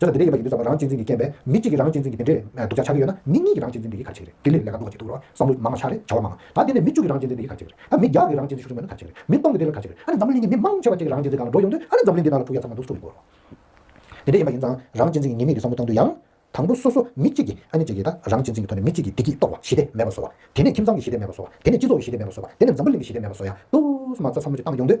ཟོས་ལ་དེ་འདྲས་ཡོད་པ་ཡིན་དུས་ཟ་བ་རང་གཅེས་འཛིན་གྱིས་རྐྱེན་པས་མི་གཅིག་གིས་རང་གཅེས་འཛིན་གྱིས་དེ་འདྲས་སྡུག་ཅག་ཆགས་ཀྱི་ཡོད་ན་མི་གཉིས་ཀྱིས་རང་གཅེས་འཛིན་འདི་གིས་གར་བྱེད་ཀྱི་རེད་དེ་ལས་ལས་ཀ་འདུག་བ་བྱེད་འདུག་རོགས་བསམ་བློ་མང་མང་ཤག་རེད་བྱ་བ་མང་ད་དེ་ནས་མི་བཅུ་གིས་རང་གཅེས་འཛིན་འདི་གིས་གར་བྱེད་ཀྱི་རེད་ད་མི་བརྒྱ་གིས་རང་གཅེས་འཛིན་ཤུགས་ཆུང་མེད་ན་གར་བྱེད་ཀྱི་རེད་མི་སྟོང་གིས་དེ་ལ་གར་བྱེད་ཀྱི་རེད་ཨ་ནི་འཛམ་བུ་གླིང་གི་མི་མང་ཆེ་བ་གཅིག་གིས་རང་གཅེས་འཛིན་གང་ལ་འགྲོ་ཡོང་དུས་ཨ་ནི་འཛམ་བུ་གླིང་འདི་དག་ལ་ཕུགས་ཡ་ཚང་མ་འདུག་སུ་ཡིན་དགོས་རོགས། དེ་འདྲས་ཡིན་པ་ཡིན་ཙང་རང་གཅེས་འཛིན་གྱི་ངེས་མེད་ཀྱི་བསམ་བློ་བཏང་དུས་ཡང། དང་པོ་སོ་སོ་མི་གཅིག་གིས་ཨ་ནི་བྱེད་ཀྱི་རེད་ད་རང་གཅེས་འཛིན་གྱི་ཐོག་ནས་མི་གཅིག་གིས་བདེ་སྐྱིད་གཏོར་བ་ཞི་བདེ་མེད་པ་བཟོ་བ་དེ་ནས་ཁྱིམ་ཚང་གི་ཞི་བདེ་མེད་པ་བཟོ་བ་དེ་ནས་སྤྱི་ཚོགས་ཀྱི་ཞི་བདེ་མེད་པ་བཟོ་བ་དེ་ནས་འཛམ་བུ་གླིང་གི་ཞི་བདེ་མེད་པ་བཟོ་ཡ་དུས་སུ་མ་རྩ་ཚ་མུ་ཅི་བཏང་ཡོང་དུས།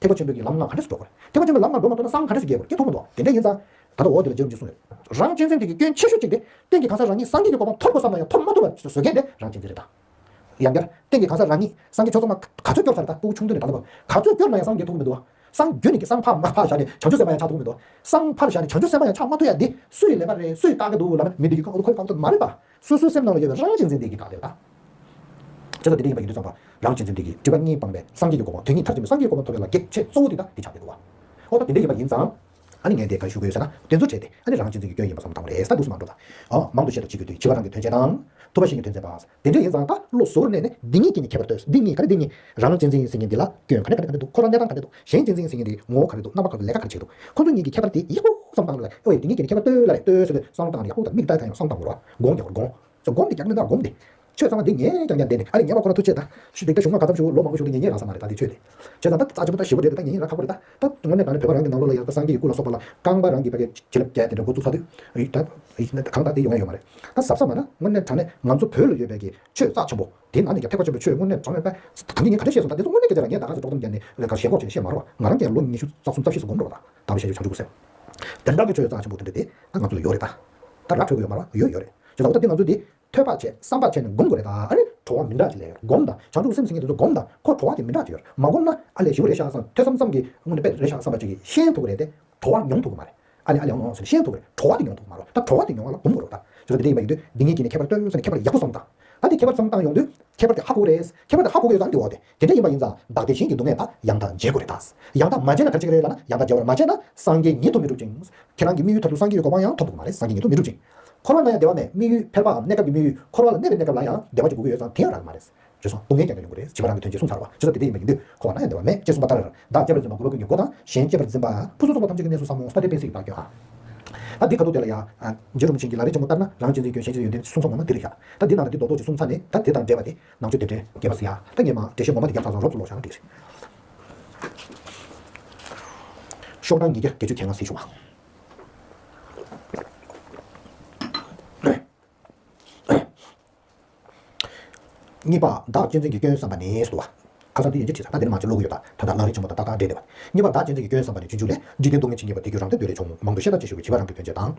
ཐེག་པ་ཆེན་པོའི་གི་ལམ་ལྔ་ག་འདྲེས་སུ་འགྲོ་དགོས། ཐེག་པ་ཆེན་པོའི་ལམ་ལྔ་འགྲོ་མ་ཐུབ་ན་སངས་ག་འདྲེས་སུ་རྒྱས་དགོས་ཀྱི་ཐུགས་མ་འདོག་དེ་འདྲས་ཡིན་ཙང། ད་ལྟ་འོག་འདི་ལ་འཇལ་རུང་གི་གསུངས་ཡོད། རང་གཅེས་འཛིན་དེ་གི་སྐྱོན་ཆེ་ཤོས་གཅིག་སྟེ། སྟེང་གི་གང་ཟག་རང་ཉིད་སངས་རྒྱས་ཀྱི་གོ་འཕང་ཐོབ་དགོས་བསམ་ན་ཡང་ཐོབ་མ་ཐུབ་པར་བཟོད་མཁན་དེ་རང་གཅེས་འཛིན་རེད་ད། ཡང་བསྐྱར། སྟེང་གི་གང་ཟག་རང་ཉིད་སངས་རྒྱས་ཆོས་ཚང་མ་ག་ཚོད་སྐྱོར་ཚར་ད་སྤོ་བོ་ཆུང་དུས་ནས་ད་ལྟ་བར། ག་ཚོད་སྐྱོར་ན་ཡང་སངས་རྒྱས་ཐུགས་མི་འདུག་ཨ། སངས་རྒྱས་ནི་གི་སངས་ཕར་མ་ཕར་བཞག་ནས་བྱང་ཆུབ་སེམས་དཔའ་ཡང་ཆགས་ཐུགས་མི་འདུག་ཨ། སངས་ཕར་བཞག་ནས་བྱང་ཆུབ་སེམས་དཔའ་ཡང་ཆགས་མ་ཐུབ་ཡ་འདི་སུའི་ལས་ཀ་རེད་སུས་བཀག་གི་འདུག་ལབ་ན་མི་འདི་གི་ཁོའི་བཀག་རྡོ་མ་རེད་ད། སོ་སོའི་སེམས་ནང་ལ་ཡོད་པའི་རང་གཅིག་འཛིན་སྟེ་གི་དགག་དེ་ལྟ། ཅེས་སོགས་དེ་འདྲ་ཡིན་པ་ཡིན་དུ་བསམ་པ། རང་གཅིག་འཛིན་སྟེ་གི་སྒྲིབ་པ་གཉིས་སྤངས་པའི་སངས་རྒྱས་ཀྱི་གོ་འཕང་དོན་གཉིས་མཐར་ཕྱིན་པའི་སངས་རྒྱས་ཀྱི་གོ་འཕང་ཐོབ་པའི་ལ་གེགས་བྱེད་གཙོ་བོ་དེ་དང་དེ་ཆགས་པའི་འདུལ་བ། ཨ་ནི་དེ་འདྲ་ཡིན་པ་ཡིན་ཙང། ཨ་ནི་ངས་དེ་ག་རེ་ཞུ་དགོས་ཟེར་ན་དེ་ཚོ་བྲལ་ཏེ་ཨ་ནི་རང་གཅིག་འཛིན་གྱི་སྐྱོན་ཡིན་པ་སོམས་དང་རེས་ད་འདུག་སུ་མང་འགྲོ་དང། འོ་མང་དུ་བཤད་དོ་བྱེད་དགོས་དུས་བྱིས་པ་རང་གི་དོན་བྱེད་དང། ཐུབ་པ་ཞིག་གི་དོན་མཛད་པ། དེ་འདྲ་ཡིན་ཙང་ད་བློ་བཟོ་བོར་གནས་ནས་འདི་གཉིས་ཀྱིས་ནི་ཁྱད་པར་ལྟོས་སོ་འདི་གཉིས་ག་རེ་འདི་གཉིས་རང་གཅིག་འཛིན་ཡིན་ཟེར་མཁན་འདི་ལ་སྐྱོན་ག་ནས་ག་རེ་ག་རེ་འདུག་ཁོ་རང་གནས་སྟངས་ག་རེ་འདུག། གཞན་གཅེས་འཛིན་ཟེར་མཁན་དེ་ངོ་བོ་ག་རེ་འདུག་རྣམ་པ་ག་རེ་ལས་ཀ་ག་རེ་བྱེད་འདུག་ཁོ་ཚོ་གཉིས་ཀྱི་ཁྱད་པར་དེ་ཡག་པོ་བསམ་སྟངས་ལ་ཨོ་ཡེ་འདི་གཉིས་ཀྱི་ནི་ཁྱད་པར་ལྟོས་ལ་རེད་ལྟོས་སོ་སོས་བསམ་སྟངས་ལ་ཡག་པོ་དང་མིག་ལྟ་དང་ཡང་བསམ་སྟངས་མི་རོ་དགོངས་ཀྱང་རོ་དགོངས་སོ་དགོངས་ཏེ་རྒྱག་ནི་ན་དགོངས་ཏེ། ཆོས་གཙང་མ་འདི་ངས་ཀྱང་ཀྱང་བསྡད་ནས་ཨ་རེ་ཉལ་བ་ཁོ་ན་ཐུགས་ཆེ་ད། ཆུ་འདི་ད་བཞུགས་ན་ག་ཙམ་བཞུགས་ལོ་མང་པོ་བཞུགས་འདུག་ཉེ་ཉེ་རང་ས་མ་རེད་ད་འདི་ཆོས་དེ། ཆོས་གཙང་ད་རྩ་ཆེན་པོ་ད་ཞི་བོ་རེད་དེ་ད་ཉེ་ཉེ་རང་ཁ་ཁོ་རེད་ད། ད་དངོས་གནས་ད་ནི་བོད་པ་རང་གི་ནང་ལོགས་ལ་ཡང་ད་སངས་རྒྱས་ཀྱི་སྐུ་ལ་སོགས་པ་ལ་རྐང་པ་རང་གིས་པ་གས་བྱེད་ལབ་བྱས་དེ་འདྲ་འགོ་བཙུགས་ཚར་དུས། ད། གང་ད་དེ་ཡོང་ཡ་ཡོད་མ་རེད། ད་ཟབ་ས་མ་ན་དངོས་གནས་དྲང་གནས་ང་ཚོ་བོད་ལ་ཡོད་པའི་གི་ཆོས་གཙང་ཆེན་པོ། དེའི་ནང་ནས་ཀྱང་ཐེག་པ་ཆེན་པོའི་ཆོས་དངོས་གནས་དྲངས་ཡོད་པས། གང་གིས་ངས་ག་དུས་བཤད་སོང་ད་དེ་ཚོ་དངོས་གནས་དེ་ལྟ་ལ་ངས་ད་ག་ཚོད་དཀྲོག་གཏམ་བརྒྱབ་ནས་ལན་གང་ཞེ་འགོག་ཅིག་བཤད་མ་རུང་བ་ང་རང་ཀྱང་ལོ་ཉི་ཤུ་རྩ་གསུམ་རྩ་བཞི་སོ་སྒོམ་འགྲོ་བ་དང་གདམས་པའི་བཤད་རྒྱུ་བྱང་ཆུབ་སེམས་དོན་དྲང་གི་ཆོས་ཡོད་ཙང་ཆེན་པོ་དོན་འགྲེལ་དེ་ད་ང་ཚོ་ལ་ཡོད་རེད་ད། ད་ར་འཕྲོད་དགོས་ཡོད་མ་རང་ཡོད་ཡོད་རེད་བྱས་ཙང་ད་དེ་ང་ཚོ་དེ་ཐོས་པ་བྱས་བསམ་པ་བྱས་ནས་སྒོམ་དགོས་རེད་ད་ཨ་རེ། གྲོགས་བ་མི་འདྲ་གཅིག་ལས་ཡོད་རེད་སྒོམ་ད་བྱང་ཆུབ་སེམས་ཟེར་མཁན་དེ་ཚོ་སྒོམ་ད་ཁོ་གྲོགས་བ་དེ་མི་འདྲ་གཅིག་ཡོད་རེད་མ་སྒོམ་ན་ཨ་ལས་ཞི་བོ་རེད་ཤག་ཙང་ཐོས་བསམ་ཙམ་གྱིས་དངོས་གནས་དཔེ་རེད་ཤག་བསམ་པ་ཅིག་གིས་ཤེས་ཐུབ་ཀྱི་རེད་དེ་གྲོགས་བ་མྱོང་ཐུབ་ཀྱི་མ་རེད། ཨ་ནི་ཨ་ལས་འོངས་ཟེར་ནས་ཤེས་ཐུབ་པ་རེད་དྲོ་བ་དེ་ཡོང་དུ་མ་རོགས་ད་དྲོ་བ་དེ་ཡོང་བ་ལ་འབུམ་གོ་རོགས་ད། ཟེར་བ་དེ་འདྲ་ཡིན་པ་ཡིན་དུས་འདི་ངས་ཀྱི་ནས་ཁྱད་པར་སྟོན་ཟེར་ནས་ཁྱད་པར་ཡག་པོ་བསམ་བཏང། ད་དེ་ཁྱད་པར་བསམ་བཏང་ཡོང་དུས་ཁྱད་པར་དེ་ཧ་གོ་གོ་རེད། ཁྱད་པར་དེ་ཧ་གོ་གོ་ཡོད་ཙང་དེ་འོག་དེ་དེ་འདྲ་ཡིན་པ་ཡིན་ཙང་བདག་དེ་བཞིན་གྱི་སྡུག་བསྔལ་དག་ཡང་དག་འཇལ་དགོས་རེད་ད། ཡང་དག་མ་འཇལ་ན་ག་ཅིག་རེད་ལ་ན་ཡང་དག་འཇལ་བར་མ་བྱས་ན་སངས་རྒྱས་ཉིད་ཐོབ་མི་འགྲུབ་ཅིང། ཁྱེད་རང་གི་དམིགས་ཡུལ་ཐོབ་ཏུ་སངས་རྒྱས་ཡོད་གོ་བ་ཡང་ཐོབ་ཏུ་མ་རེད་སངས་རྒྱས་ཉིད་ཐོབ་མི་འགྲུབ་ཅིང། འཁོར་བ་ན་ཡང་བདེ་བ་མེད་དམིགས་ཡུལ་ཕལ་པའམ་གནས་སྐབས་ཀྱི་དམིགས་ཡུལ་འཁོར་བ་ལ་གནས་པའི་གནས་སྐབས་ལ་ཡང་བདེ་བ་ཅིག་དགོས་ཀྱི་ཡོད་ཙང་དེ་ཡང་རག་མ་རེད། བྱོལ་སོང་སྡུག་བསྔལ་ཀྱང་མི་ལོན་གྱི་རེད་བྱིས་པ་རང་གི་དོན་ཆེད་སྲུང་ཚར་བ་ཆུ་ཚོད་དེ་འདྲས་ཡིན་པ་ཡིན་དུས་ཁོ་བ་ན་ཡང་བདེ་བ་མེད་ཅེས་གསུངས་པ་ལྟར་བདག་སྐྱེས་པར་འཛིན་པ་དགུ་ལོ་ཀུན་གྱི་འགོ་དང་གཞན་སྐྱེས་པར་འཛིན་པ་ཕུན་སུམ་ཚོགས་པ་ཐམས་ཅད་ཀྱི་གནས་སུ་བསམ་མོ་ས་ཏེ་དཔེ་སྲིད་ཀྱི་བདག་སྐྱོན་ཨང། ད་འདི་ཁ་ཐུག་དེ་ལ་ཡང། རྗེ་རིན་པོ་ཆེན་གྱི་ལ་རེ་ཆེན་མོ་ལྟར་ན་རང་གཅེས་འཛིན་སྐྱོན་གཞན་གཅེས་ཡོན་ཏན་གསུམ་ཚང་མ་ན་འདི་རེ་བཞག་ད་འདི་ནང་ན་འདི་རྡོག་རྡོག་གཅིག་གསུམ་ཚ་ནས་ད་དེ་དང་འདྲེས་པ་དེ་ནང་ཆོས་དེ་འདྲས་རྒྱས་པ་ཟེར་ཡ་ད་ངེད་མ་འདྲེས་བཤད་ངོ་མ་དེ་རྒྱབ་ཚགས་ཚགས་རོབ་ཙུག་ལོག་བཞག་ན་འགྲིག། ཤོག་གྲངས་ཉིས་བརྒྱ་བརྒྱད་ཅུ་གྱ་ལྔ་གསེར་ཞུ་བ། གཉིས་པ། བདག་གཅེས་འཛིན་གྱི་སྐྱོན་བསམ་པ་ནི་བསྡུ་བ། ཁ་སང་འདི་ཡིན་གྱི་དྲིས་སོང་ད་འདི་ནི་མ་བྱེད་བློ་དགོས་ཡོད་པ་ད་ལྟ་ལག་ལེན་ཆེན་པོ་དང་ཏག་ཏག་འབྲེལ་བདེ་བ། གཉིས་པ། བདག་གཅེས་འཛིན་གྱི་སྐྱོན་བསམ་པ་ནི་བརྗོད་འཇུག་ལས་འཇིག་རྟེན་སྡུག་བསྔལ་འབྱིན་གྱིན་པ་དེ་རྒྱུ་རང་སྟོབས་འདོད་རེ་ཆུང་ངུ་མང་དུ་ཤེས་སྟངས་ཅི་ཞིག་གིས་བྱིས་པ་རང་གི་དོན་བྱེད་དང།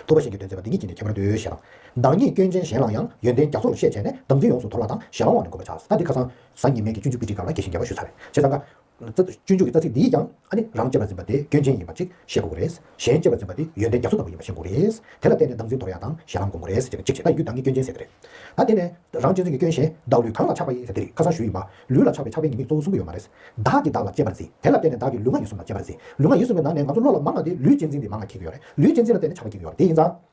ཐུབ་པ་གཞན་གྱི་དོན་བྱེད་པ་འདི་གཉིས་ཀྱིས་ནི་ཁྱད་པར་འདོད་ཤེས་དང། བདག་ཉིད་སྐྱོན་ཅན་གཞན་ལའང་ཡང་ཡོན་ཏན་རྒྱ་མཚོ་རུ་ཤེས་བྱས་ནས་སྡང་འཛིན་ཡོངས་སུ་དོར་བ་དང་ཞེ་སློང་བ་ནི་དགོས་པ་ཆགས་ད་འདི་ཁ་སང་གཟའ་ཉི་མེད་ཀྱི་སྤྱོད་འཇུག་པི་ཏི་གང་ལ་དགྱེས་ཤིང་རྒྱལ་བ་ཞུ་ཚར་བས་བྱས་ཙང་དགའ། ཚིག་ཏུ་སྤྱོད་འཇུག་གི་རྩ་ཚིག་འདིས་ཀྱང་ཨ་ནི་རང་གཅེས་པར་འཛིན་པ་དེ་སྐྱོན་ཅན་ཡིན་པ་ཅིག་ཤེས་དགོས་ཀྱི་རེད། གཞན་གཅེས་པར་འཛིན་པ་དེ་ཡོན་ཏན་རྒྱ་མཚོ་ལྟ་བུ་ཡིན་པ་ཤེས་དགོས་རེད། དེ་ལ་བརྟེན་ནས་བདག་འཛིན་དོར་ཡ་དང་ཞེ་ལམ་སྒོམ་དགོས་རེད་ཅེས་བྱས་པ་ལ་ཡུལ་བདག་གཉིས་སྐྱོན་ཅན་ཟེར་གྱི་རེད། ད་དེ་ནས་རང་གཅེས་འཛིན་གྱི་སྐྱོན་གཞན་བདག་ལུས་གང་ལ་ཆགས་པ་ཡིན་ཟེར་དེ་རིགས་ཁ་སང་ཞུས་ཡིན་པ། ལུས་ལ་ཆགས་པའི་ཆགས་པའི་ཉེས་དམིགས་གཙོ་བོ་གསུམ་པོ་ཡོད་མ་རེད། བདག་གིས་བདག་ལ་གཅེས་པར་འཛིན་དེ་ལ་བརྟེན་ནས་བདག་གིས་ལུས་ངག་ཡིད་གསུམ་ལ་གཅེས་པར་འཛིན། ལུས་ངག་ཡིད་གསུམ་པའི་ནང་ནས་ང་ཚོ་བློ་ལ་མ་ང་སྟེ་ལུས་གཅེས་འཛིན་འདི་མ་ང་གི་གི་ཡོད་རེད། ལུས་གཅེས་འཛིན་ལ་བརྟེན་ནས་ཆགས་པ་གི་གི་ཡོད་རེད་དེ་ཡིན་ཙང།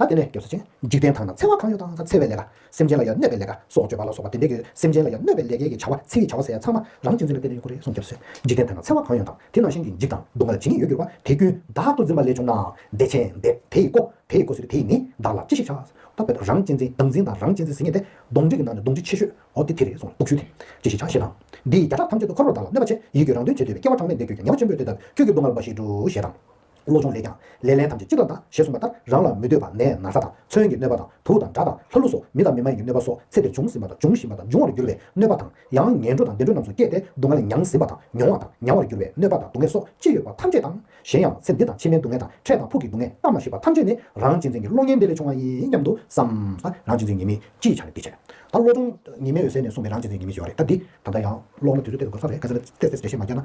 ད་དེ་ནས་སྐྱོབ་སེ་ཅན། འཇིག་རྟེན་དག་ན་འཚེ་བ་གང་ཡོད་དང་འཚེ་བའི་ལས་ཀ། སེམས་ཅན་ལ་ཡང་གནོད་པའི་ལས་ཀ་སོགས་བརྗོད་པ་ལ་སོགས་པ་དེ་འདྲས་ཡོད་སེམས་ཅན་ལ་ཡང་གནོད་པའི་ལས་སྐལ་གྱི་བྱ་བ་ཚེ་ཡི་བྱ་བ་ཟེར་ཡ་ཚང་མ་རང་གཅིག་འཛིན་པའི་དཔེ་ལས་ཡོད་ཁུ་རེ་གསུངས་སྐྱོབ་སེ། འཇིག་རྟེན་དག་ན་འཚེ་བ་གང་ཡོད་དང་དེ་ནང་བཞིན་གྱི་འཇིག་དང་སྡུག་བསྔལ་ཇི་སྙེད་ཡོད་གྱུར་པ་དེ་ཀུན་བདག་ཏུ་འཛིན་པ་ལས་བྱུང་ནའང་བདེ་ཆེན་འདེབས་དེ་ཡི་སྒོ་དེ་ཡི་སྒོ་ཟེར་བའི་དེ་ཡིས་ནི་བདག་ལ་ཅི་ཞིག་བྱ། ད་བོད་རང་གཅིག་འཛིན་བདག་འཛིན་དང་རང་གཅིག་འཛིན་ཟེར་ངེས་ཏེ། གདོང་འདྲེ་གྱི་ནང་ནས་གདོང་འདྲེ་ཆེ་ཤོས་འོ་དེ་དེ་རེད་གསུངས་ལ་དུག་ཤུལ་དེ། ཅི་ཞིག་བྱ་ཞེས་དང། འདི་ཡི་བརྒྱ་ཕྲག་ཐམས་ཅད་དུ་འཁོར་བར་བདག་ལ་གནོད་པ་ཆེ་ཡིད་ཀྱིས་རང་དོན་བྱེད་འདོད་པའི་སྐྱེ་བ་གྲངས་མེད་འདས་གྱུར་ཀྱི་ཉེས་པ་ཆེན་པོས་དེ་ལྟ་བུའི་ཁྱོད་ཀྱི་སྡུག་བསྔལ་བ་ཞིག་འགྲུབ་ཞེས་དང། བློ་སྦྱོང་ལས་ཀྱང། ལས་ལན་ཐམས་ཅད་ཅི་ལྟར་དང་ཞེས་གསུངས་པ་ལྟར་རང་ལ་མི་འདོད་པ་ནས་ན་ཚ་དང་མཚོན་གྱི་གནོད་པ་དང་དུག་དང་དགྲ་དང་ལྷ་ཀླུ་སོགས་མི་དང་མི་མ་ཡིན་གྱི་གནོད་པ་སོགས་ཚེ་འདིར་བྱུང་ཟིན་པ་དང་འབྱུང་བཞིན་པ་དང་འབྱུང་བར་འགྱུར་བའི་གནོད་པ་དང། ཡང་ངན་འགྲོ་དང་བདེ་འགྲོ་རྣམས་སུ་སྐྱེས་ཏེ་སྡུག་བསྔལ་མྱང་ཟིན་པ་དང་མྱོང་བ་དང་མྱང་བར་འགྱུར་བའི་གནོད་པ་དང་སྡུག་བསྔལ་སོགས་ཅི་ཡོད་པ་ཐམས་ཅད་དང། གཞན་ཡང་ཚེ་འདི་དང་ཕྱི་མའི་སྡུག་བསྔལ་དང་འཕྲལ་དང་ཕུགས་ཀྱི་སྡུག་བསྔལ་སྔར་མ་ཤེས་པ་ཐམས་ཅད་ནི་རང་གཅེས་འཛིན་གྱི་བློ་ངན་འདི་ལས་བྱུང་བ་ཡིན་སྙམ་དུ་བསམས། རང་གཅེས་འཛིན་ཉེས་དམིགས་ཅི་ཡི་ཆ་ནས་འདི་བྱས། ད་བློ་སྦྱོང་ཉི་མའི་འོད་གསལ་ནས་གསུངས་པའི་རང་གཅེས་འཛིན་ཉེས་དམིགས་ཀྱི་བར་རེད་ད་འདི། ད་ལྟ་ཡང་ཀློག་ན་དུས་ཚོད་སྟེར་དགོས་ས་རེད་གལ་སྲིད་ལ་བལྟས་ཚེ་འགྲེལ་བཤད་མ་རྒྱག་ན།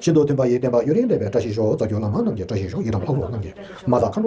ཤིན་ཏུ་མཐུན་པ་ཡི་བསྟན་པ་ཡུན་རིང་སྤེལ་བའི་བཀྲ་ཤིས་ཤོག་རྫ་གྱོ་ལ་མ་རྣམས་ཀྱི་བཀྲ་ཤིས་ཤོག་ཡི་དམ་ལྷ་ཀླུ་རྣམས་ཀྱི་མ་རྩ་མཁའ་འགྲོ།